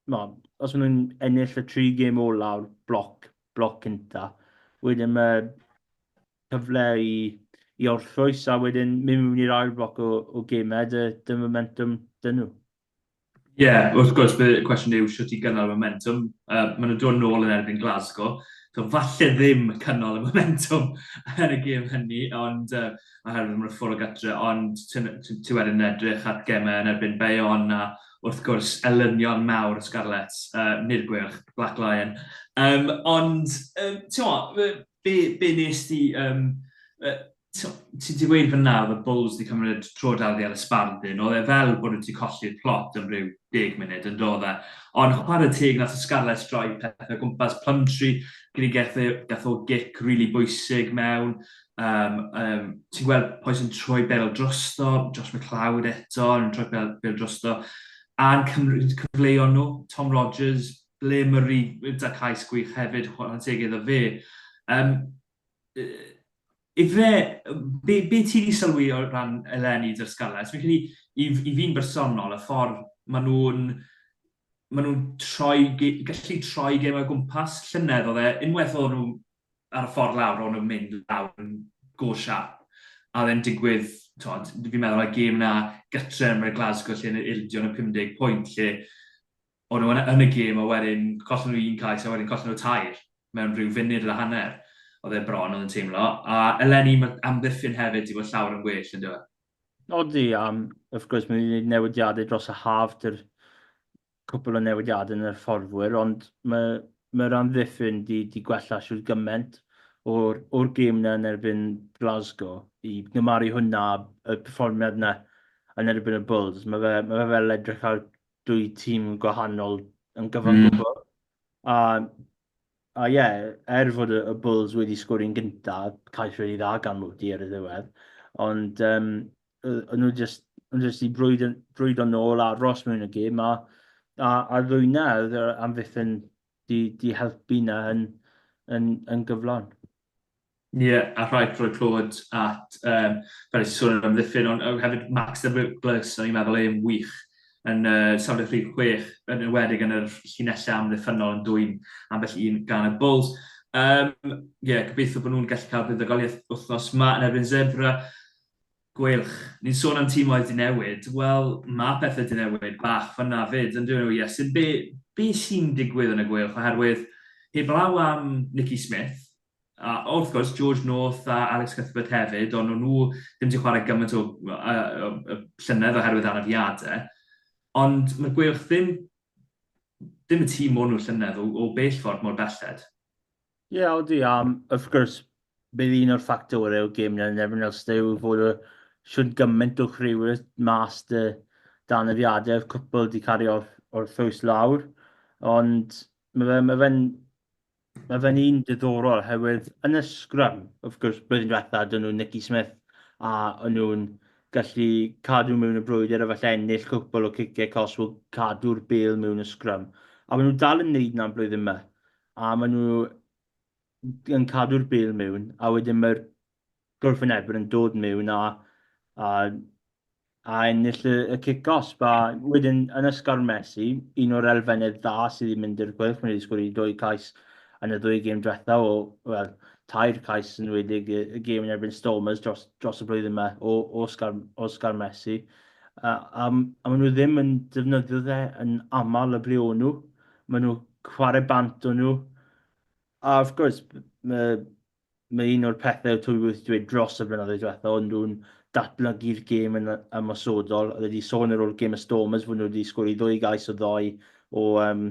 chimod, os maen nhw'n ennill y tri gêm olaf, bloc, bloc cynta, wedyn mae cyfle i, i orffwys a wedyn mynd mewn i'r ail bloc o, o gemau, dy, dy momentum dyn nhw. Ie, yeah, wrth gwrs, bydd y cwestiwn yw sut i gynnal momentum. Uh, maen nhw'n dod nôl yn erbyn Glasgow. So, falle ddim cynnal y momentum yn y gêm hynny, ond uh, oherwydd mae'n ffwrdd o gatre, ond ti wedyn edrych at gemau yn erbyn Bayon a wrth gwrs, elynion mawr y Scarlets, yy nid y Gweilch, Black Lion. Um, ond, um, ti'n be, be nes ti... Um, uh, ti wedi gweud fyna oedd y Bulls wedi cymryd tro dal ar y sbardun, oedd e fel bod wedi colli'r plot yn rhyw deg munud yn dod e. Ond chwarae teg nath y Scarlets droi pethau gwmpas Plumtree, gyda gath o gic rili really bwysig mewn, Um, um, ti'n gweld Poes yn troi bel drosto, Josh McLeod eto yn troi bel, bel drosto, a'n cyfleuon nhw, Tom Rogers, ble Murray, da cais gwych hefyd, chwarae'n teg iddo fe. Um, Ife, be, be ti wedi sylwi o ran eleni dy'r Scarlets? Fi'n credu, i, i fi'n bersonol, y ffordd maen nhw'n maen nhw'n troi, gallu troi gem o gwmpas llynedd oedd e, unwaith oedd nhw ar y ffordd lawr, ro'n nhw'n mynd lawr yn go siarp. A oedd e'n digwydd, tod, fi'n meddwl y gêm na gytre yn y Glasgow lle yn yr ildio yn y 50 pwynt lle o'n nhw yn y gêm a wedyn collen nhw un cais a wedyn collen nhw tair mewn rhyw funud a hanner. Oedd e bron oedd yn teimlo. A eleni mae amddiffyn hefyd i fod llawer yn well yn dweud. Odi, um, wrth gwrs mae wedi newidiadau dros y haf, dy'r cwpl o newidiadau yn yr hyfforddwyr, ond mae mae'r amddiffyn 'di 'di gwella shwd gymaint o'r o'r gêm 'na yn erbyn Glasgow, i gymharu hwnna â y perfformiad 'na yn erbyn y Bulls. Mae fe ma' fe fel edrych ar dwy tîm gwahanol yn gyfan mm. gwbl. A a ie, yeah, er fod y, y Bulls wedi sgori'n gyntaf, cais wedi dda gan Moody ar y ddiwedd, ond um, o'n nhw jyst, o'n nhw jyst i brwyd, brwyd o'n ôl a ros mewn y gym a, a, a ddwyna oedd yr amddiffyn di, di helpu na yn, yn, yn gyflon. Ie, yeah, a rhaid rhoi clod at, um, fel eisiau sôn am amddiffyn, ond uh, hefyd Max the Ripples, o'n i'n meddwl e'n wych yn uh, safle rhif 6, yn ywedig yn yr llinellau amddiffynol yn dwy'n ambell un gan y Bulls. Um, yeah, gobeithio bod nhw'n gallu cael buddugoliaeth wythnos yma yn erbyn Zebra. Gweilch. Ni'n sôn am timoedd 'di newid, wel, ma' pethe 'di newid bach fan'na 'fyd, yn dyw e, Iesu? Be, be sy'n digwydd yn y Gweilch, oherwydd heblaw am Nicky Smith, a wrth gwrs George North a Alex Cuthbert hefyd, ond o'n nhw ddim 'di chwarae gymaint o, o, o, o llynedd oherwydd anafiadau, ond mae'r Gweilch ddim, ddim y tîm o'n nhw llynedd o, o bell ffordd mor belled. Ie, odi, a wrth gwrs, bydd un o'r ffactorau o gêm yn erbyn Ulster yw fod y shwt gymaint o chwiorydd mas dy danafiadau, oedd cwpl wedi cario o'r, or ffws lawr, ond mae fe'n ma fe Mae fe'n un diddorol oherwydd yn y sgrym, wrth gwrs, blwyddyn diwetha, dyn nhw'n Nicky Smith a o'n nhw'n gallu cadw mewn y brwydr a falle ennill cwpl o ciciau cos o cadw'r bel mewn y sgrym. A maen nhw dal yn neud na'n blwyddyn yma. a maen nhw yn cadw'r bêl mewn, a wedyn mae'r gwrthwynebwyr yn dod mewn a, a, a ennill y, y cic os. Ba, wedyn, yn ysgawr Messi, un o'r elfennau dda sydd wedi mynd i'r chwilch, mae wedi sgwrdd i dwy cais yn y ddwy gêm diwetha o, wel, tair cais yn wedi y, y gêm yn erbyn Stormers dros, dros y blwyddyn yma o, o, Oscar, o Oscar Messi. A, a, a maen nhw ddim yn defnyddio dde yn aml y ble o'n nhw. Maen nhw chwarae bant o nhw. A wrth gwrs, mae, mae un o'r pethau twy wrth dweud dros y blynyddoedd diwetha, ond nhw'n datblygu'r gêm yn ymosodol. Oedd wedi sôn ar ôl gêm y Stormers fod nhw wedi sgori ddwy gais o ddoi o um,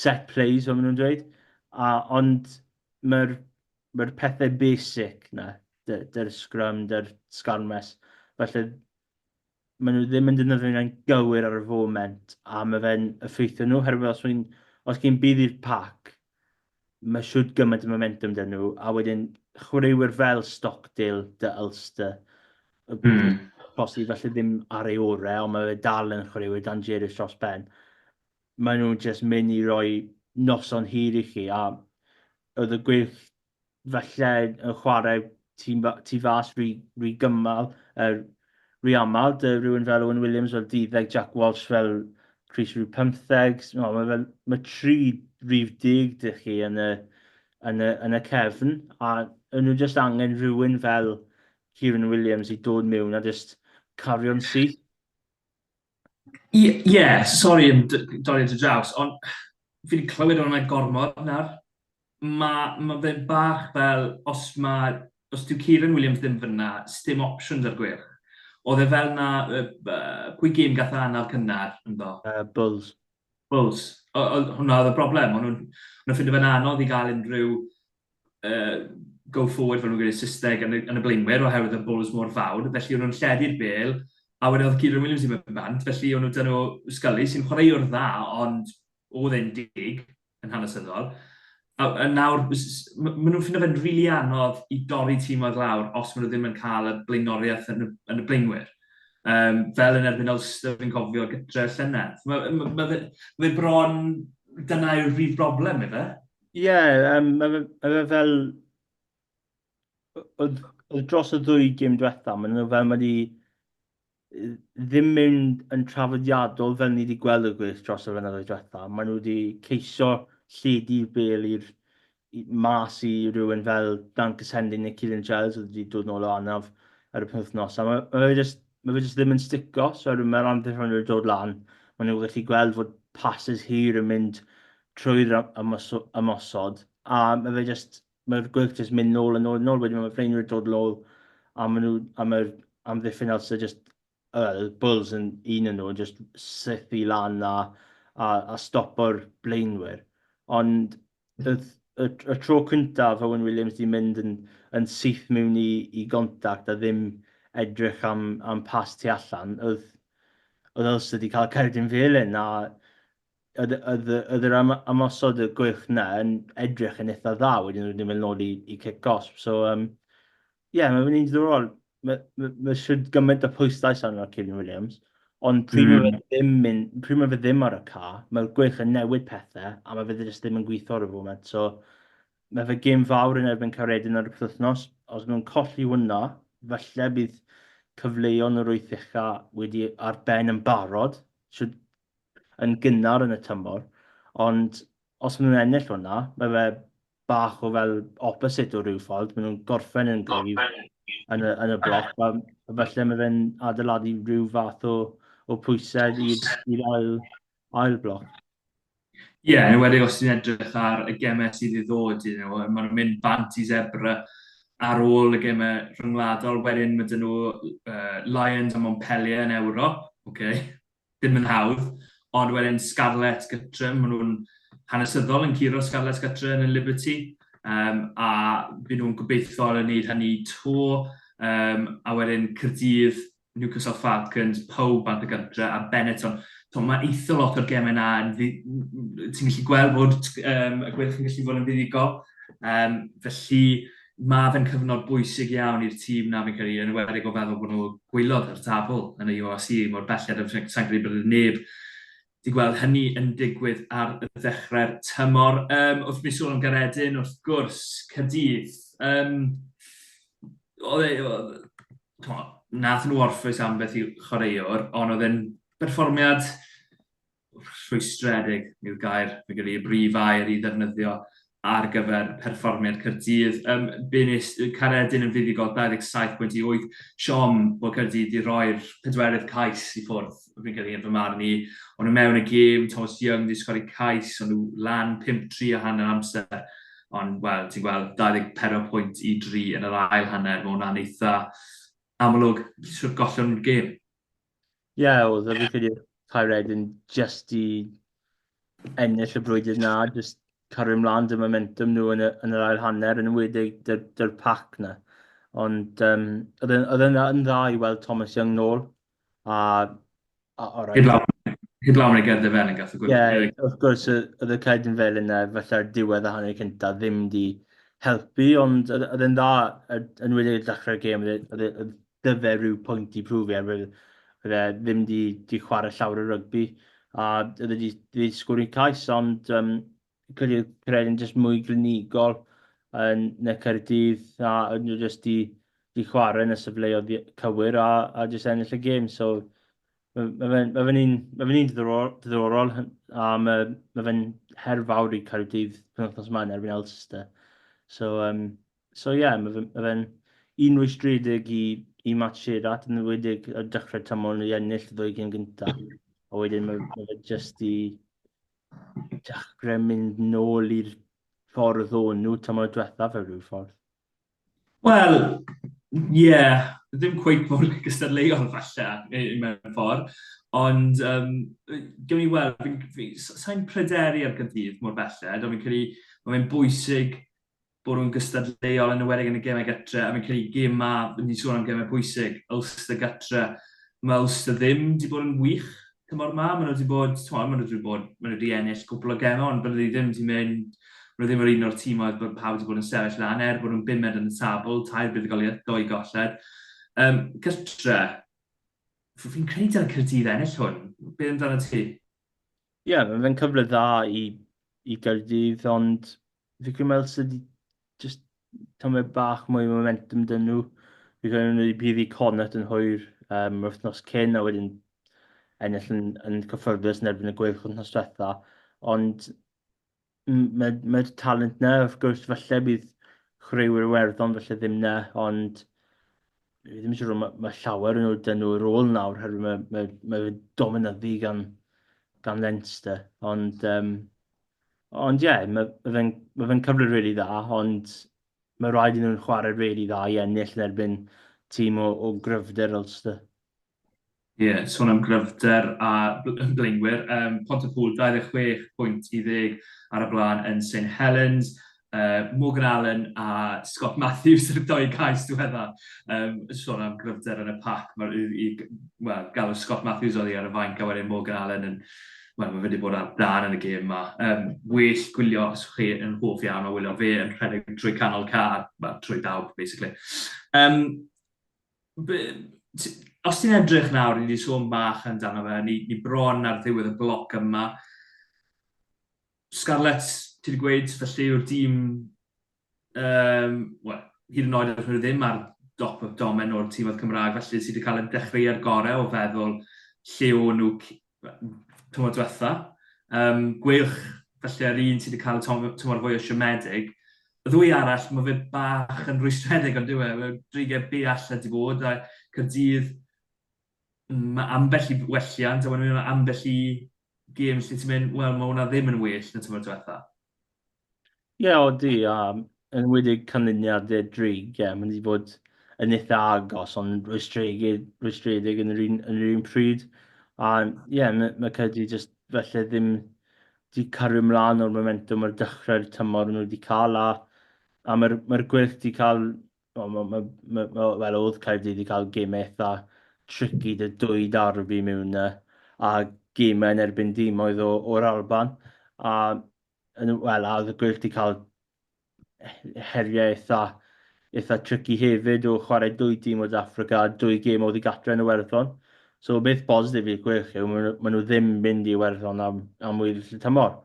set plays, fel maen nhw'n dweud. A, ond mae'r mae pethau basic na, dy'r scrum, dy'r sgarmes. Felly, maen nhw ddim yn defnyddio fe'n gywir ar y foment, a mae fe'n effeithio nhw, herwydd os, un, os gen bydd i'r pac, mae siwt gymaint o momentum dyn nhw, a wedyn chwaraewyr fel Stockdale, dy Ulster, y mm. posib felly ddim ar ei orau, ond mae fe dal yn chwaraewyr dan Jerry dros ben. Maen nhw'n just mynd i roi noson hir i chi, a oedd y gweilch falle yn chwarae tu, tu fas rhy, rhy gymal, er, rhy aml, dy rhywun fel Owen Williams fel dyddeg, Jack Walsh fel Chris rhyw pymtheg, no, mae, fel, mae tri rhyw dig dych chi yn y, yn y, yn y cefn, a yn nhw just angen rhywun fel Kieran Williams i dod mewn a just cario'n syth. Ie, ie, sori am d- dorri dy draws, ond fi 'di clywed o ran gormod nawr. Ma' ma' fe bach fel os ma'... os dyw Keiran Williams ddim fan'na, sdim options ar gwyrdd. Oedd e fel 'na yy b- yy pwy gêm gath e anaf cynnar ynddo? Yy Bulls. Bulls. O- oedd hwnna oedd y broblem, o'n nhw'n o'n nhw'n ffindo fe'n anodd i gael unrhyw uh, go forward fel nhw'n gwneud Saesneg yn y, yn y blaenwyr oherwydd y bwls mor fawr, felly o'n nhw'n lledu'r bel a wedyn oedd Kieran Williams i mewn bant, felly o'n nhw dyn nhw Scully sy'n chwaraewr dda ond oedd e'n dig yn hanesyddol. A, a nawr, maen nhw'n ffindo fe'n rili really anodd i dorri tîm oedd lawr os maen nhw ddim yn cael y blaenoriaeth yn y, yn y blaenwyr. Um, fel yn erbyn Ulster, fi'n cofio gytre llynedd. Mae ma, ma, ma, ma bron, dyna yw'r brif broblem, efe. Ie, um, mae fe, ma fe fel... Oedd, oedd dros y ddwy gym diwetha, maen nhw fel mae wedi ddim mynd yn trafodiadol fel ni wedi gweld y gweill dros y fynyddoedd diwetha. Maen nhw wedi ceisio lledu'r bel i'r mas i rhywun fel Dan Cysendin neu Cillian Giles oedd wedi dod nôl o anaf ar y penwythnos. A mae, mae fe just, mae fe just ddim yn stico, so mae'r anffurfion wedi dod lan. Maen nhw'n gallu gweld fod passes hir yn mynd trwy'r ymosod, a mae fe jyst, mae'r gweilch jyst mynd nôl a nôl a nôl, wedyn mae Freinwyr yn dod nôl, a maen nhw, a mae'r amddiffyn nawr sydd jyst, uh, Bulls yn un yn nhw, yn jyst sythu lan a, a, a stopo'r blaenwyr. Ond y, y, y tro cyntaf Owen Williams di mynd yn, yn syth mewn i, i gontact a ddim edrych am, am pas tu allan, oedd, oedd Ulster di cael cerdyn felyn, a oedd, oedd, oedd yr am, amosod y gwych na yn edrych yn eitha dda wedyn wedi mynd nôl i, i cic gosb. So, um, yeah, mae'n mynd i'n ddorol. Mae ma, ma siwr gymaint o pwystais arno Kevin Williams. Ond pryd mm. mae fe hmm. ddim, pryd mae fe ddim ar y ca, mae'r gwych yn newid pethau a mae fe ddim ddim yn gweithio ar y foment. So, mae fe gym fawr yn erbyn Caredin ar y pethwthnos. Os nhw'n colli hwnna, falle bydd cyfleuon yr wythicha wedi ar ben yn barod. Siwr yn gynnar yn y tymor, ond os maen nhw'n ennill hwnna, mae fe bach o fel opposite o rhyw ffordd, maen nhw'n gorffen yn gryf yn y, yn y bloc, a felly mae fe'n adeiladu rhyw fath o, o pwysau i'r ail, ail bloc. Ie, yeah, yn wedi os ti'n edrych ar y gemau sydd i ddod, you know, mae'n mynd bant i zebra ar ôl y gemau rhyngwladol, wedyn mae dyn nhw uh, Lions a Montpellier yn Ewrop, okay. Ddim yn hawdd, ond wedyn Scarlett gytre, maen nhw'n hanesyddol yn curo Scarlett gytre yn y Liberty, um, a fy nhw'n gobeithio yn wneud hynny to, um, a wedyn Cyrdydd, Newcastle Falcons, pawb bant y gytre, a Benetton. So, mae eitha lot o'r gemau yna, ti'n gallu gweld bod um, y gwyrch yn gallu fod yn fuddugol, um, felly mae fe'n cyfnod bwysig iawn i'r tîm 'na fi'n credu, yn enwedig o feddwl bod nhw gwylod ar y tabl yn y URC mor belled a sa i'n credu bod e neb 'di gweld hynny yn digwydd ar ddechrau'r tymor. Yym, wrth mi sôn am Garedin, wrth gwrs, Caerdydd, um, oedd e, oedd, nath nhw orffwys ambell i chwaraewr, ond oedd e'n berfformiad rhwystredig yw'r gair, fi'n credu, y brif air i ddefnyddio ar gyfer perfformiad Caerdydd. Um, Bunis Caredin yn fuddugol 27.8 siom bod Caerdydd wedi rhoi'r pedwerydd cais i ffwrdd, fi'n credu yn fy marn i. Ond yn mewn y gêm, Thomas Young wedi sgori cais, ond nhw lan 5-3 a hanner amser. Ond, wel, ti'n gweld 24 pwynt i 3 yn yr ail hanner, mae hwnna'n eitha amlwg sut gollion nhw'r gêm. Ie, oedd e, fi'n credu oedd Cae Red yn jyst i ennill y brwydr 'na, jyst cario ymlaen 'da momentum nhw yn y yn yr ail hanner, yn enwedig 'da'r 'da'r pac 'na. Ond yym oedd e'n oedd e'n dda yn dda i weld Thomas Young nôl a a o reit. Heblaw heblaw am ei gerdd e felyn gath y gwyl. Ie, wrth gwrs y- oedd y cerdyn felyn 'na falle'r diwedd y hanner cynta ddim 'di helpu ond oedd oedd e'n dda yn enwedig ar ddechrau'r gêm oedd e oedd e oedd dyfe rhyw pwynt i prwfio er fod e ddim wedi di chwarae llawer o rygbi a oedd wedi di sgwr i'n cais ond um, credu credu yn jyst mwy glinigol yn y Caerdydd a oedd nhw jyst di, di chwarae yn y sefleoedd cywir a, a jyst ennill y gêm so mae fe'n ma fe un, ma fe un diddorol a mae, ma fe'n her fawr i Caerdydd penwthnos maen erbyn Elster so um, So ie, mae fe'n ma fe un rwystredig i, i Matt Shearat, yn wedig y dechrau tymor nhw i ennill y ddwy gyn gyntaf. A wedyn mae, ma fe jyst i dechrau mynd nôl i'r ffordd o'n nhw tymor diwethaf fe rhyw ffordd. Wel, ie, yeah, ddim cweith mor gystadleuol falle mewn ffordd, ond um, gewn ni weld, sa'n pryderu ar gydydd mor belled, ond fi'n credu mae fe'n bwysig bwrw yn gystadleuol yn enwedig yn y gemau gytre a fi'n credu gêm ma, ni'n sôn am gemau pwysig, Ulster gytre. Mae Ulster ddim wedi bod yn wych tymor ma, maen nhw wedi bod, tmod, maen nhw wedi bod, maen nhw wedi ennill cwpl o gemau ond bydde ddim wedi mynd, maen nhw ddim yr un o'r tîm oedd bod pawb wedi bod yn sefyll lan er bod nhw'n bumed yn y tabl, tair buddugoliaeth, doi golled. Um, gytre, fi'n credu dyna Cyrdydd ennill hwn, beth amdano ti? Ie, yeah, mae'n cyfle dda i, i Gyrdydd ond Fi'n credu mae sydd wedi just tymed bach mwy o momentum dyn nhw. Fi'n credu nhw wedi prif i Cornet yn hwyr um, yr wythnos cyn a wedyn ennill yn, yn cyffyrddus yn erbyn y gweilch wythnos diwetha. Ond mae'r mae talent na, wrth gwrs, falle bydd chwaraewyr werddon falle ddim na, ond fi ddim eisiau rhywun, mae, mae llawer yn nhw dyn nhw yr ôl nawr, herwydd mae, mae, mae dominyddu gan, gan Leinster. Ond um, Ond ie, mae ma fe'n ma fe'n cyfle rili really dda, ond mae rhaid i nhw'n chwarae rili really dda i ennill yn erbyn tîm o, o gryfder Ulster. Ie, yeah, sôn am gryfder a blaenwyr, um, Pont y Pŵl 26 pwynt i ddeg ar y blaen yn St Helens, uh, Morgan Allen a Scott Matthews yn y doi gais diwedda. Um, sôn am gryfder yn y pac, mae'r i, well, galw Scott Matthews oedd i ar y fainc a wedyn Morgan Allen yn, well, mae wedi bod ar dan yn y gêm yma. Um, well gwylio os chi yn hoff iawn o wylio fe yn rhedeg trwy canol car, well, trwy dawb, basically. Um, be, os ti'n edrych nawr, ni wedi sôn bach amdano fe, ni, ni bron ar ddiwedd y bloc yma, Scarlets, ti wedi gweud, felly yw'r dîm, um, well, hyd yn oed ar hwnnw ddim ar dop y domen o'r tîm oedd Cymraeg, felly sydd wedi cael ei dechrau ar gorau o feddwl lle o nhw tymor diwetha. Um, gweilch, felly ar un sydd wedi cael y tymor fwy o siomedig. Y ddwy arall, mae fe bach yn rwystredig ond diwe, mae dreigau be allan di bod, a Cyrdydd, Mae ambell i welliant, a wedyn mae yna ambell i games lle ti'n mynd, wel, mae hwnna ddim yn well na tymor diwetha. Ie, yeah, o di, a yn wedi canlyniadau drig, ie, yeah, mae'n wedi bod yn eitha agos, ond rwystredig, rwystredig yn, yr un, yn yr un pryd. A ie, yeah, mae, mae Cedi jyst felly ddim wedi cario ymlaen o'r momentum ar dechrau'r tymor nhw wedi cael, a, a mae'r mae gwyrth wedi cael Wel, ma, ma, ma, ma, wel, oedd Caerdydd wedi cael gymau eitha tricky dy dwy darbi mewn yna, a gymau yn erbyn dim oedd o'r Alban. A, yn, wel, a oedd y gwyllt wedi cael heriau eitha, eitha tricky hefyd o chwarae dwy dîm o Dafrica a dwy gêm oedd i gatre yn y werddon. So, beth bositif i'r gwyllt yw, maen nhw ddim mynd i werddon am, am wyl y tymor.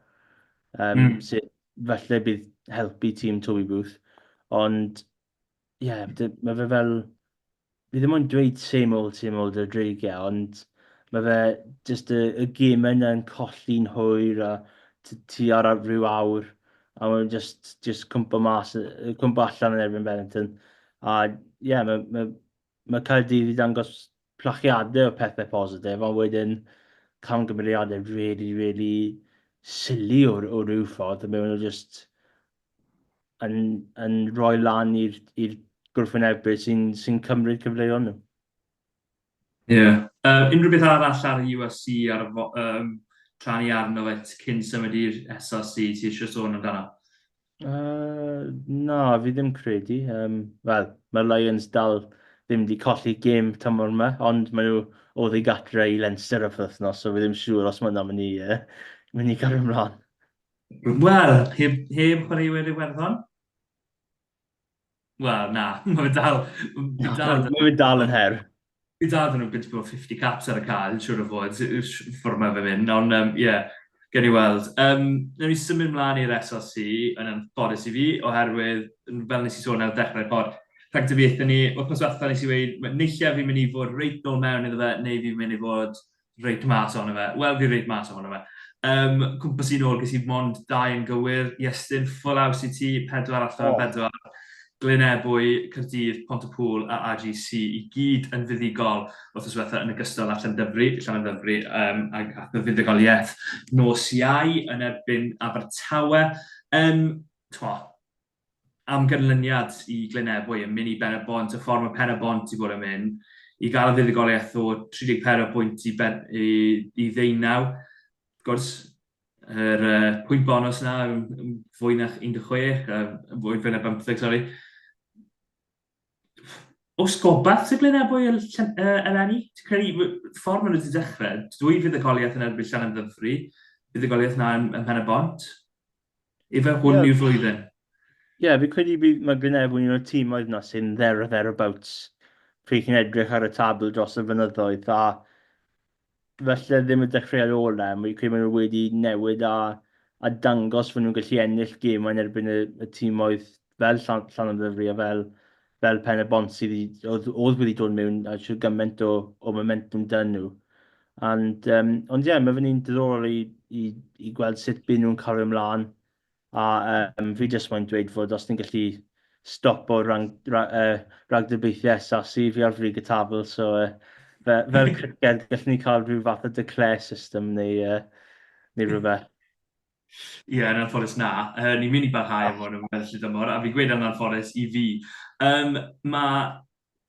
Um, mm. Sydd falle bydd helpu tîm Toby Booth, ond ie, yeah, mae fe fel... Fi ddim ond dweud same old, same old y dreigiau, ond mae fe just y, y gym yna yn colli'n hwyr a ti ar rhyw awr a mae'n just, just cwmpa mas, cwmpa allan yn erbyn Bennington. A ie, yeah, mae, mae, Mae Caerdydd wedi dangos plachiadau o pethau positif, ond wedyn camgymeriadau rili, rili silly o o ryw ffordd, a maen nhw jyst yn yn rhoi lan i'r i'r gwrthwynebydd sy'n sy'n cymryd cyfleon nhw. Ie. Yeah. Uh, unrhyw beth arall ar y USC ar y um, tra ni arno fe cyn symud i'r SRC ti eisiau sôn amdano? Yy, na, fi ddim credu. Um, Wel, mae'r Lions dal ddim wedi colli gêm tymor yma, ond maen nhw o ddi gatre i Leinster y wythnos, so fi ddim siŵr os mae yna mynd i, uh, mynd i gario ymlaen. Wel, heb, heb chwaraewyr Iwerddon? Wel, na. Mae fe dal... Mae dal... Mae fe dal yn her. Mae dal dyn nhw'n bwyta bod 50 caps ar y cael, siwr o fod, ffwrdd mae fe mynd. Ond, ie, um, yeah, gen i weld. Um, Nawr ni symud mlaen i'r SLC, yn anffodus i fi, oherwydd, fel nes i sôn ar y dechrau'r pod, rhag dybiaethau ni, wythnos diwetha nes i weud, neilliau fi'n mynd i fod reit nôl mewn iddo fe, neu fi'n mynd i fod reid mas ohono fe. Wel, fi reid mas ohono fe. Um, cwmpas i'n ôl, ges i mond dau yn gywir. Iestyn, ffwl aws i ti, pedwar allan oh. bedwar. Glyn Ebwy, Cyrdydd, Pont y Pŵl a AGC i gyd yn fuddugol wrth yswetha yn ogystal â Llandyfri, Llandyfri um, ac at y fuddugoliaeth nos iau yn erbyn Abertawe. Um, twa, am ganlyniad i Glynebwy yn mynd i Ben-y-bont, y ffordd mae Pen-y-bont wedi bod yn mynd, i gael y fuddugoliaeth o 34 pwynt i, ben, i, i ddeunaw. Wrth gwrs, yr uh, pwynt bonus na, fwy na 16, uh, fwy na 15, sori. Os gobaith sy'n glyn ebwy y eleni, ti'n credu, ffordd maen nhw wedi dechrau, dwi fydd y goliaeth yn erbyn Llan Ddyfri, bydd y goliaeth na yn, yn pen y bont. Efe hwn yeah. yw'r flwyddyn. Ie, yeah, fi credu bydd mae Glynebw yn un o'r tîm oedd yna sy'n there or thereabouts. Pryd chi'n edrych ar y tabl dros y fynyddoedd, a falle ddim y dechreuad ola, mae credu maen nhw wedi newid a, a dangos fod nhw'n gallu ennill gemau yn erbyn y, y tîmoedd fel Llan, Llan Ddyfri a fel, fel Pen y Bont sydd oedd, oedd wedi dod mewn a siw gymaint o, o momentum dyn nhw. And, um, ond ie, yeah, mae fe'n un diddorol i, i, i gweld sut byd nhw'n cario ymlaen. A um, fi jyst moyn dweud fod os ni'n gallu stop o rang, ra, uh, ragdybiaethau SAC fi ar frig y tabl, so uh, fe, fel criced gallwn ni cael rhyw fath o declare system neu, uh, neu rhywbeth. Ie, yeah, yn anffodus na. Uh, ni'n mynd i barhau am hwn yn ymwneud â dymor, a fi'n gweud yn anffodus i fi. Um, mae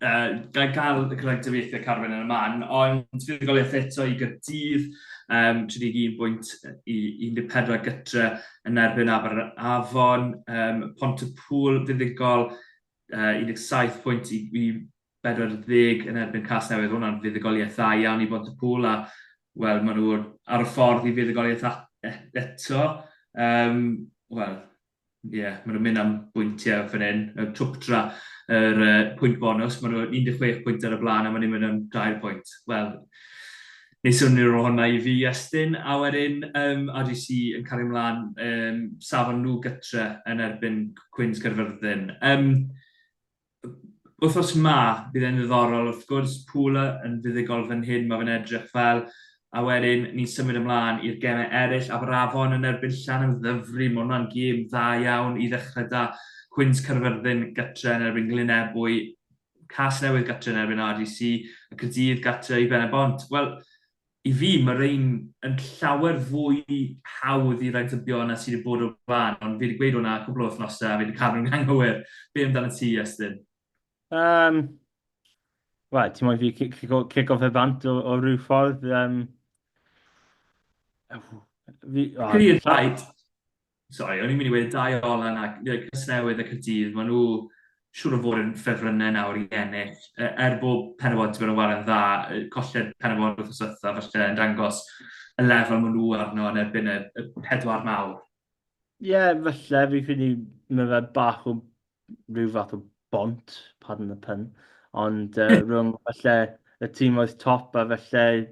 uh, gael gael y cyfrangyfeithiau Carwen yn y man, ond fuddugoliaeth eto i gydydd um, 31.14 gytre yn erbyn Aber Afon, um, Pont y Pŵl fuddugol uh, 17 pwynt i, i 40 yn erbyn Cas Newydd, hwnna'n fuddugoliaeth dda iawn i Pont y Pŵl, a wel, maen nhw ar y ffordd i fuddugoliaeth eto. Um, wel, Ie, maen nhw'n mynd am bwyntiau fan hyn. Yy, Twp tra, yr yy, pwynt bonws. Maen nhw 16 pwynt ar y blaen a maen nhw'n mynd am 3 pwynt. Wel, ni swnio'r rôl hwnna i fi, Iestyn. A wedyn, um, RGC yn cario ymlaen, um, safon nhw gytre yn erbyn Cwins Caerfyrddin. Um, Wythnos ma, bydd e'n ddiddorol, wrth gwrs, Pula yn fuddugol fan hyn, mae fe'n edrych fel, a wedyn ni'n symud ymlaen i'r gemau eraill, Aberafon yn erbyn Llan yn Ddyfri, mae hwnna'n gêm dda iawn i ddechrau da, Cwins Caerfyrddin gytre yn erbyn Glynebwy, Casnewydd gytre yn erbyn RDC, a Caerdydd gytre i Ben-y-bont. Wel, I fi, mae rhein yn llawer fwy hawdd i raidybio na sydd wedi bod o'r blaen, ond fi wedi gweud hwnna cwpl o wythnosau a fi wedi cadw'n anghywir. Be amdanat ti, Iestyn? Yym, wel, ti'n moyn fi cico, cico fe bant o, o ryw ffordd? Yym, fi... Clear fight! Sori, o'n i'n mynd i wedi dau olan ac Casnewydd ac y dydd, maen nhw siwr o fod yn ffefrynnau nawr i ennill. E, er bod Penybod wedi bod yn waren dda, colled Penybod wrth yswetha, felly yn dangos y lefel maen nhw arno yn erbyn y, y pedwar mawr. Ie, yeah, felly, fi credu mae fe bach o rhyw fath o bont, pardon the pun, ond uh, rhwng felly y tîm oedd top a felly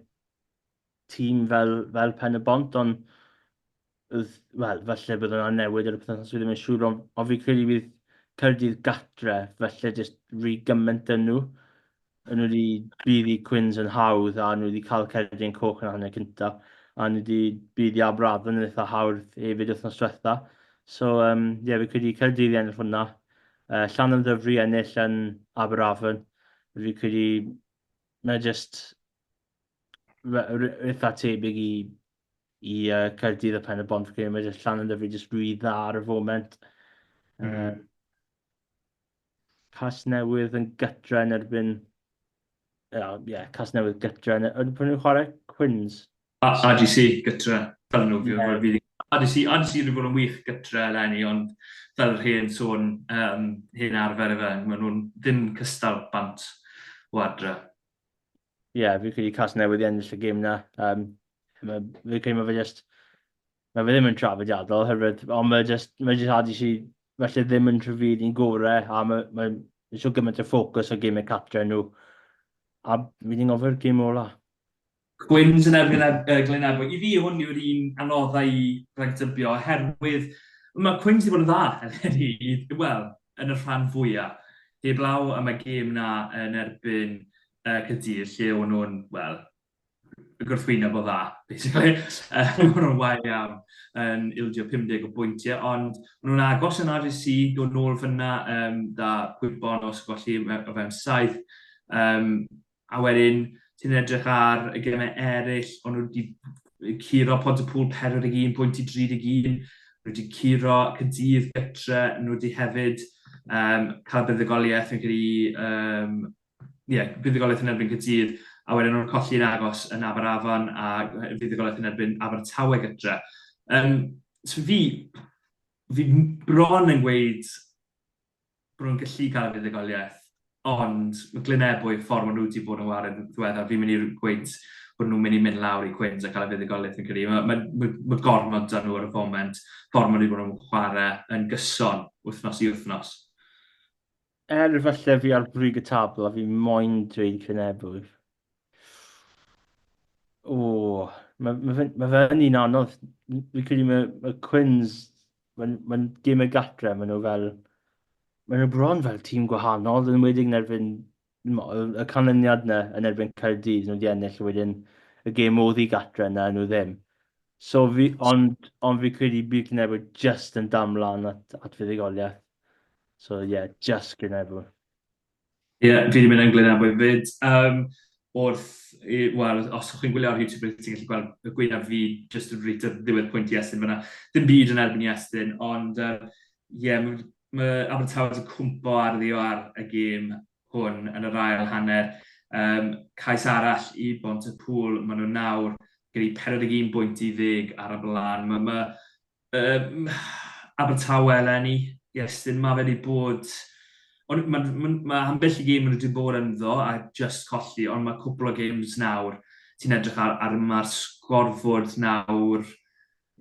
tîm fel, fel Pen y Bont, ond wel, falle bydd yna newid ar y pethau sydd ddim yn siŵr, ond, ond fi'n credu bydd Cyrdydd gatre, falle jyst rhy gymaint yn nhw. Yn nhw wedi bydd i Cwins yn hawdd, a nhw wedi cael Cerdyn Coch yn hanner cynta, a nhw wedi bydd i Aberafon yn eitha hawdd hefyd wythnos diwetha. So, um, ie, yeah, fi'n credu Cyrdydd i ennill hwnna. Uh, Llan am ddyfru ennill yn Aberafon. Fi'n credu mae jyst eitha tebyg i, i uh, Caerdydd a Pen y Bont, fi'n mae jyst llan yn dyfu jyst rwy dda ar y foment. Mm. Um, cas newydd yn gytra yn erbyn... Ie, oh, yeah, cas newydd gytra yn erbyn... Pwyn nhw'n chwarae? Quins? A, AGC gytra, fel nhw. Yeah. Fi, AGC, AGC wedi bod yn wych gytra eleni, ond fel yr hen sôn, um, hen arfer efe, maen nhw'n ddim cystal bant o adre. ie, yeah, fi'n credu Casnewydd i ennill y gêm na. Um, mae, fi'n credu mae fe just, mae fe ddim yn trafodiadol, herwydd, ond mae just, mae just hadi si, felly ddim yn trafod i'n gorau, a mae, mae, mae so gymaint o ffocws o gymau cartre nhw. A mi ni'n gofio'r gym ola. Gwyn's yn erbyn e- Glyn Ebwy. I fi, hwn yw'r un anoddau i ragdybio, oherwydd mae Cwyn's wedi bod yn dda, i, wel, yn y rhan fwyaf. Heb law am y gêm na yn erbyn uh, Cydydd, lle o'n nhw'n, wel, y gwrthwyna bod dda, basically. O'n nhw'n wael iawn yn ildio 50 o bwyntiau, ond o'n nhw'n agos yn RGC, dod nôl fyna um, da gwybon os golli o fewn saith. Um, a wedyn ti'n edrych ar y gemau eraill, ond nhw wedi curo pont y pŵl 41 pwynt i 31, nhw wedi curo cydydd gytre, nhw wedi hefyd um, cael buddugoliaeth yn gyda, um, yeah, buddugoliaeth yn erbyn cydydd, a wedyn nhw'n colli'n agos yn Aberafan a fuddugoliaeth yn erbyn Abertawe gytre. Um, so fi, fi bron yn gweud bod nhw'n gallu cael y fuddugoliaeth, ond mae Glyn Ebwy, y ffordd maen nhw wedi bod yn wario yn ddiweddar, fi'n mynd i gweud bod nhw'n mynd i mynd lawr i Quins a cael y fuddugoliaeth yn credu. Mae, mae, mae, mae gormod da nhw ar y foment, ffordd maen nhw wedi bod yn chwarae yn gyson wythnos i wythnos. Er falle fi ar brig y tabl a fi moyn dweud Glyn Ebwy, O, mae ma fe'n ma fe un anodd. Fi'n credu mae ma Quins, mae'n ma gym y gatre, maen nhw fel... Maen nhw bron fel tîm gwahanol, yn wedi'n erbyn y canlyniad yna yn erbyn Caerdydd, nhw wedi ennill wedyn y gêm oedd i gatre yna, nhw ddim. So fi, ond, ond fi credu bydd Cynefo just yn damlan at, at fuddugoliaeth. So ie, yeah, just Cynefo. Ie, yeah, fi wedi mynd yn Glyn Amoy fyd. Um, wrth, wel, os chi'n gwylio ar YouTube, rydych chi'n gallu gweld y gwynaf fi jyst yn reit ar ddiwedd pwynt Iestyn fyna. Dim byd yn erbyn Iestyn, ond ie, uh, yeah, mae ma Abertawe wedi cwmpo ar ddio ar y gêm hwn yn yr ail hanner. Um, cais arall i bont y pŵl, maen nhw nawr gyda'i 41 bwynt i ddeg ar y blaen. Mae ma, Um, Abertawe eleni, Iestyn, mae fe wedi bod... Ond mae ma, ma ambell i gêm maen nhw wedi bod ynddo a just colli, ond mae cwpl o games nawr, ti'n edrych ar, ar mae'r sgorfod nawr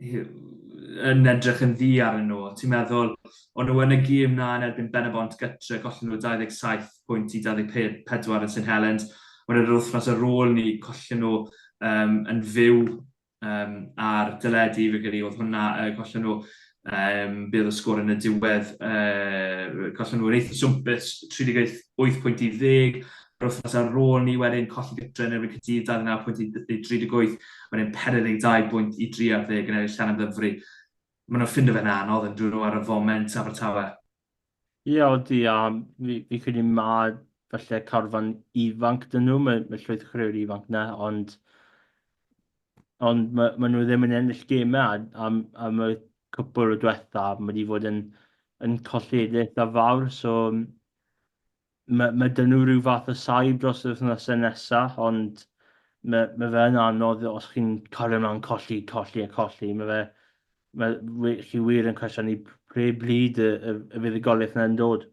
yn edrych yn ddi ar nhw. Ti'n meddwl, o'n nhw yn y gêm na yn erbyn Benabont gytre, gollen nhw 27 pwynt i 24 yn St Helens. Ond yr wythnos ar ôl ni, collen nhw um, yn fyw um, ar dyledu, fe gyda oedd hwnna, uh, gollen nhw um, bydd y sgwr yn y diwedd, uh, gollen nhw'n eitha swmpus, 38 pwynt i ddeg, yr wythnos ar ôl ni wedyn colli gytre yn erbyn Cydydd 29 pwynt i 38, wedyn 42 pwynt i 30 yn eraill llan am ddyfru. Mae nhw'n ffind o fe'n anodd yn dyn nhw ar y foment Abertawe. Ie odi a fi fi'n credu ma' falle carfan ifanc 'dyn nhw ma' ma' llwyth o chwaraewyr ifanc 'na ond ond ma' ma' nhw ddim yn ennill geme a am am y cwpwl o dwetha ma' 'di fod yn yn colledigaeth a fawr so Mae mae 'da nhw rhyw fath o saib dros yr wythnosau nesa, ond mae mae fe yn anodd os chi'n cario mlaen colli, colli a colli. Mae fe mae wi- chi wir yn cwestiynu p- pre bryd y y y fydd y goliath yna yn dod.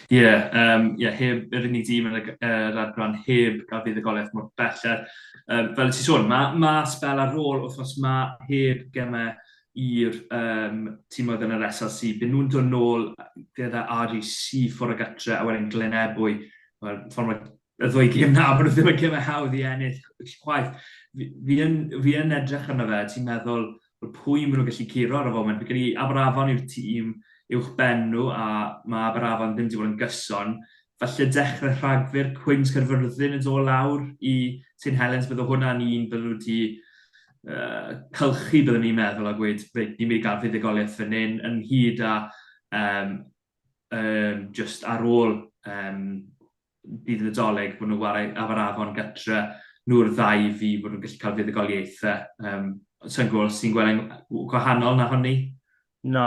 Ie, yym, ie, heb yr unig dîm yn y g- yy, yr adran heb a fuddugoliaeth mor bell. Er, um, fel y ti sôn, mae ma sbel ar ôl wythnos ma heb gemau i'r yym timoedd yn yr SLC, bydden nhw'n dod nôl gyda REC ffwrdd o gytre a wedyn Glynebwy. Wel, ffordd mae y ddwy gêm na, maen nhw ddim yn gymau hawdd i ennill chwaith. Fi, fi, yn, fi yn edrych arno fe, ti'n meddwl, pwy maen nhw'n gallu curo ar y foment? Fi'n credu Aberafon yw'r tîm uwch ben nhw a mae Aberafon ddim wedi bod yn gyson. Falle dechrau Rhagfyr, Cwins Caerfyrddin yn dod lawr i Saint Helens, bydde hwnna'n un bydden nhw wedi cylchu byddwn i'n meddwl a gweud reit ni'n mynd i gael fuddugoliaeth fan hyn ynghyd â um, um, just ar ôl um, bydd y Nadolig bod nhw'n wario Aberafon gytre nhw'r ddau fi bod nhw'n gallu cael fuddugoliaethau. Um, Sa'n gwybod os ti'n gweld e'n gwahanol na honni? Na,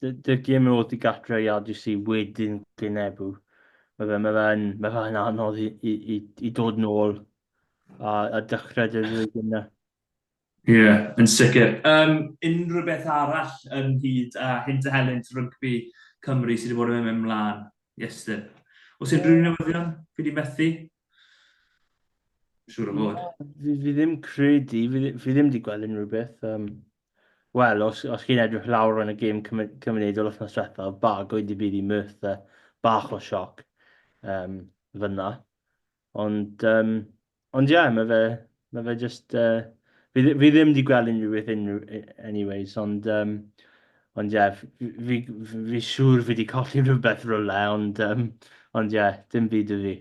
dy'r gêm yn ôl i gatre i RGC wedyn Glynebw. Mae fe'n ma fe ma fe anodd i, i, i, i dod yn ôl a, a dechrau dy'r flwyddyn yna. Ie, yeah, yn sicr. Um, unrhyw beth arall yn hyd a hyn dy helynt rygbi Cymru sydd wedi bod yn mynd mlaen, Iestyn? Os unrhyw yeah. newyddion, fi wedi methu? Siwr o fod. Fi, fi ddim credu, fi, fi ddim wedi gweld unrhyw beth. Um, Wel, os, os chi'n edrych lawr yn y gêm cymunedol wythnos diwethaf, bagwyd i byd i Merthyr, bach o sioc um, fyna. Ond, um, ond ie, yeah, mae fe, mae fe just... Uh, fi, fi ddim wedi gweld unrhyw beth unrhyw, anyways, ond... Um, ond ie, yeah, fi, fi, fi siŵr fi wedi colli rhywbeth rhywle, ond, um, ond ie, yeah, dim byd y fi.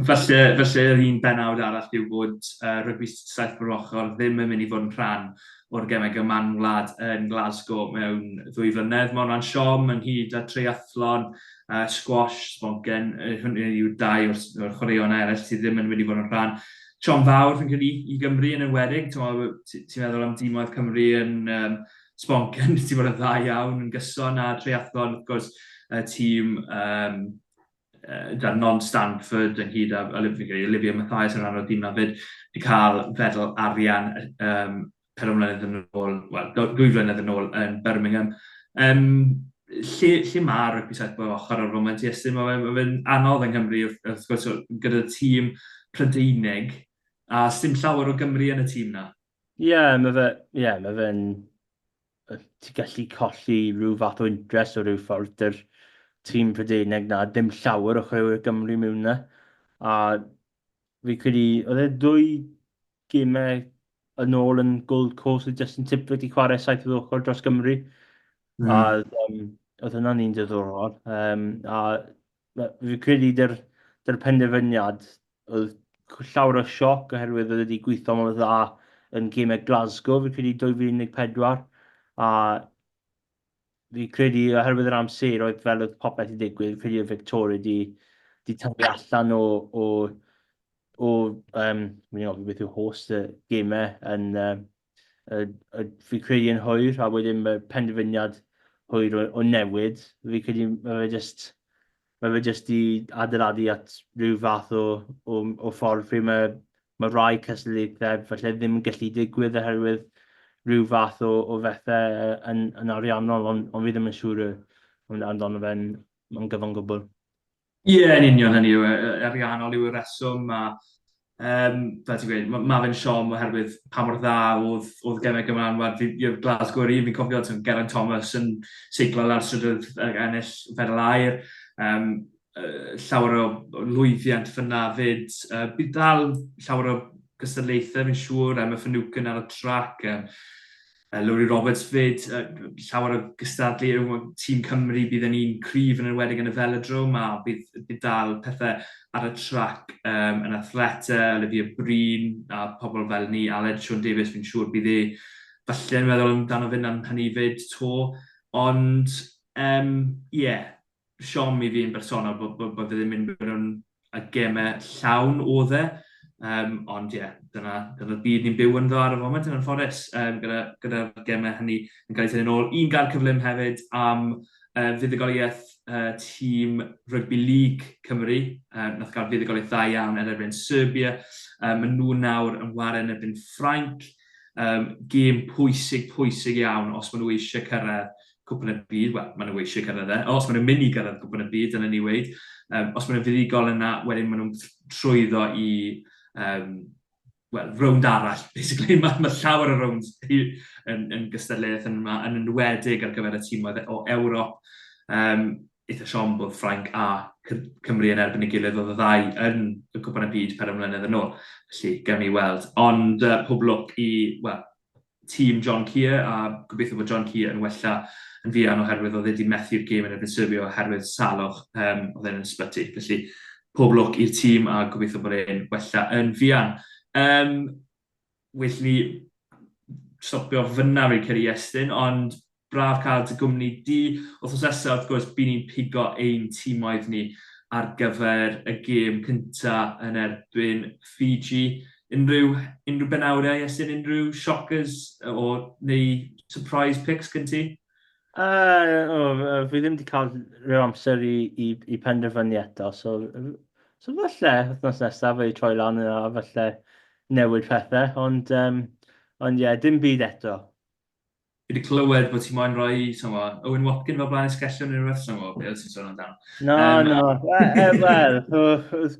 Falle, falle yr un benawd arall yw bod yy rygbi saith mor ochr ddim yn mynd i fod yn rhan o'r gemau gyda Man Wlad yn Glasgow mewn ddwy flynedd. Mae hwnna'n siom ynghyd â treiathlon, yy sgwash, sbongen, yy hynny yw dau o'r s- o'r chwaraeon eraill sydd ddim yn mynd i fod yn rhan. Siom fawr fi'n credu i Gymru yn enwedig, t'mo' w- ti- ti'n meddwl am dîmoedd Cymru yn yym sbongen wedi bod yn dda iawn yn gyson a treiathlon wrth gwrs y tîm yym gyda Non Stanford ynghyd â Olivia Mathias yn rhan o'r tîm 'na 'fyd, 'di cael fedal arian yym pedwar mlynedd yn ôl, wel dwy flynedd yn ôl yn Birmingham. Yym lle lle ma' rygbi saith bob ochr ar y foment Iestyn? Ma' fe'n ma' fe'n anodd yng Nghymru wrth wrth gwrs o- gyda tîm Prydeinig a sdim llawer o Gymry yn y tîm 'na. Ie ma' fe ie ma' fe'n ti'n gallu colli rhyw fath o interest o rhyw ffordd dy'r tîm Prydeineg na, dim llawer o chwaraewyr Gymru mewn na. A fi credu, oedd e ddwy gymau yn ôl yn Gold Coast oedd Justin Tipler wedi chwarae saith oedd ochr dros Gymru. Mm. A um, oedd hwnna'n un diddorol. Um, a fi credu dy'r dy'r penderfyniad Oedd llawer o sioc oherwydd oedd wedi gweithio mor dda yn gemau Glasgow, fi'n credu 2014, a fi'n credu oherwydd yr amser oedd fel oedd popeth i ddigwydd, fi'n credu oedd Victoria di, di tyfu allan o, o, o um, fi'n ofyn beth yw host y gemau yn, uh, Fi'n credu yn hwyr a wedyn mae penderfyniad hwyr o newid. Fi'n credu mae fe jyst mae fe jyst 'di adeiladu at ryw fath o o o ffordd lle mae mae rhai cystadlaethau falle ddim yn gallu digwydd oherwydd ryw fath o o fethe yy yn yn ariannol ond ond fi ddim yn siŵr yy amdano fe'n yn gyfan gwbl. Ie, yn union, hynny yw, ariannol yw'r rheswm a yym fel ti'n gweud, mae fe'n siom oherwydd pa mor dda oedd oedd Gemau Gymraeg Anwar, fi ie Glasgow yr un, fi'n cofio timod Geraint Thomas yn seiclo lawr strydoedd ag ennill fedal aur, yym yy llawer o lwyddiant fan'na 'fyd. Yy bydd dal llawer o gystadlaethau fi'n siŵr, Emma Finucane ar y trac yym Yy, Lowri Roberts 'fyd, yy, llawer o gystadlu yw yy tîm Cymru, bydd yn un cryf yn enwedig yn y Velodrome a bydd bydd dal pethe ar y trac yym yn athlete, Olivia Breen a pobl fel 'ny, Aled Siôn Davies fi'n siŵr bydd e falle yn meddwl amdano fe 'na'n hynny 'fyd 'to. Ond yym ie. siom i fi yn bersonol bod, bod, bod ddim yn mynd mewn y gemau llawn o dde. Um, ond ie, yeah, dyna, dyna byd ni'n byw ynddo ar y foment yn anffodus, um, gyda, gyda gemau hynny yn cael ei tynnu'n ôl. Un gael cyflym hefyd am uh, fuddugoliaeth uh, tîm Rugby League Cymru, um, nath gael fuddugoliaeth dda iawn yn erbyn Serbia. Um, maen nhw nawr yn wario yn erbyn Ffrainc. Um, gêm pwysig, pwysig iawn os maen nhw eisiau cyrraedd Cwpan y Byd, wel, maen nhw eisiau cyrraedd e. Os maen nhw'n mynd i gyrraedd Cwpan y Byd, dylen ni weid, um, os maen nhw'n fuddugol yna, wedyn maen nhw'n trwyddo i um, well, rownd arall, basically. Mae, ma llawer o rownd yn, yn gystadleuaeth yn yma, yn enwedig ar gyfer y tîmoedd o Ewrop. Um, eitha siom bod Ffrainc a Cymru yn erbyn y gilydd oedd y ddau yn y cwpan y byd per ymwneud yn ôl. Felly, gawn ni weld. Ond uh, pob lwc i, well, tîm John Kear a gobeithio bod John Kear yn wella yn fuan oherwydd oedd e 'di methu'r gêm yn erbyn Serbia oherwydd salwch, yym, oedd e'n yn ysbyty. Felly, pob lwc i'r tîm a gobeithio bod e'n wella yn fuan. Um, well ni stopio fyna fi'n credu Iestyn, ond Braf cael dy gwmni di. Wythnos nesaf, wrth gwrs, by ni'n pigo ein timoedd ni ar gyfer y gêm cynta yn erbyn Fiji. Unrhyw, unrhyw benawdau, Iestyn, unrhyw shockers o, neu surprise picks gen ti? Uh, o, fi ddim wedi cael rhyw amser i, i, i penderfynu eto, so, so falle wythnos nesaf fe i troi lan yna, a falle newid pethau, ond um, ond ie, yeah, dim byd eto. Fi wedi clywed bod ti moyn rhoi, ti'n mo, Owen Watkin fel blaen esgellion neu rhywbeth, ti'n mo, beth ti'n sôn amdano. No, um, no, wel,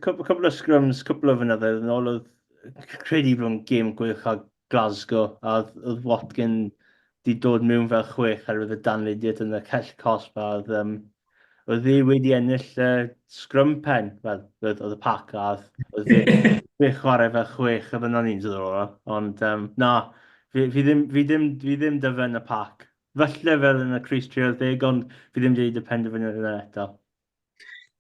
cwbl o sgrwms, cwbl o fynyddoedd yn ôl, oedd credu bod yn gêm gwych a Glasgow, a oedd Watkin di dod mewn fel chwech ar oedd y danlidiad yn y cell cosb, a oedd um, oedd ddi wedi ennill y scrum pen, fel oedd y pac a oedd ddi chwarae fe chwech y fynon ni'n dod o'r Ond um, na, fi, fi, ddim, fi, ddim, fi ddim dyfen y pac. Felly fel yn y Cris 30, ond fi ddim wedi y penderfyniad yna eto.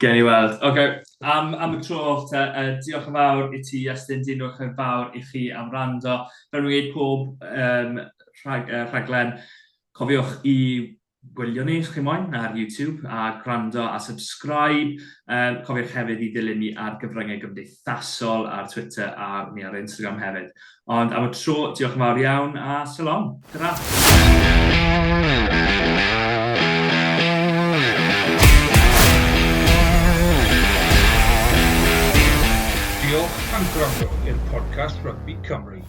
Gen i weld. Oce, okay. am, am y tro oll te, uh, diolch yn fawr i ti, Iestyn, diolch yn fawr i chi am rando. Fel rwy'n gwneud pob um, rhag, uh, rhaglen, cofiwch i gwylio ni os chi moyn ar YouTube a gwrando a subscribe. Yym, cofiwch hefyd i ddilyn ni ar gyfryngau gymdeithasol ar Twitter a ni ar Instagram hefyd. Ond am y tro, diolch yn fawr iawn a shalom. Tara! Diolch am gwrando i'r podcast Rugby Cymru.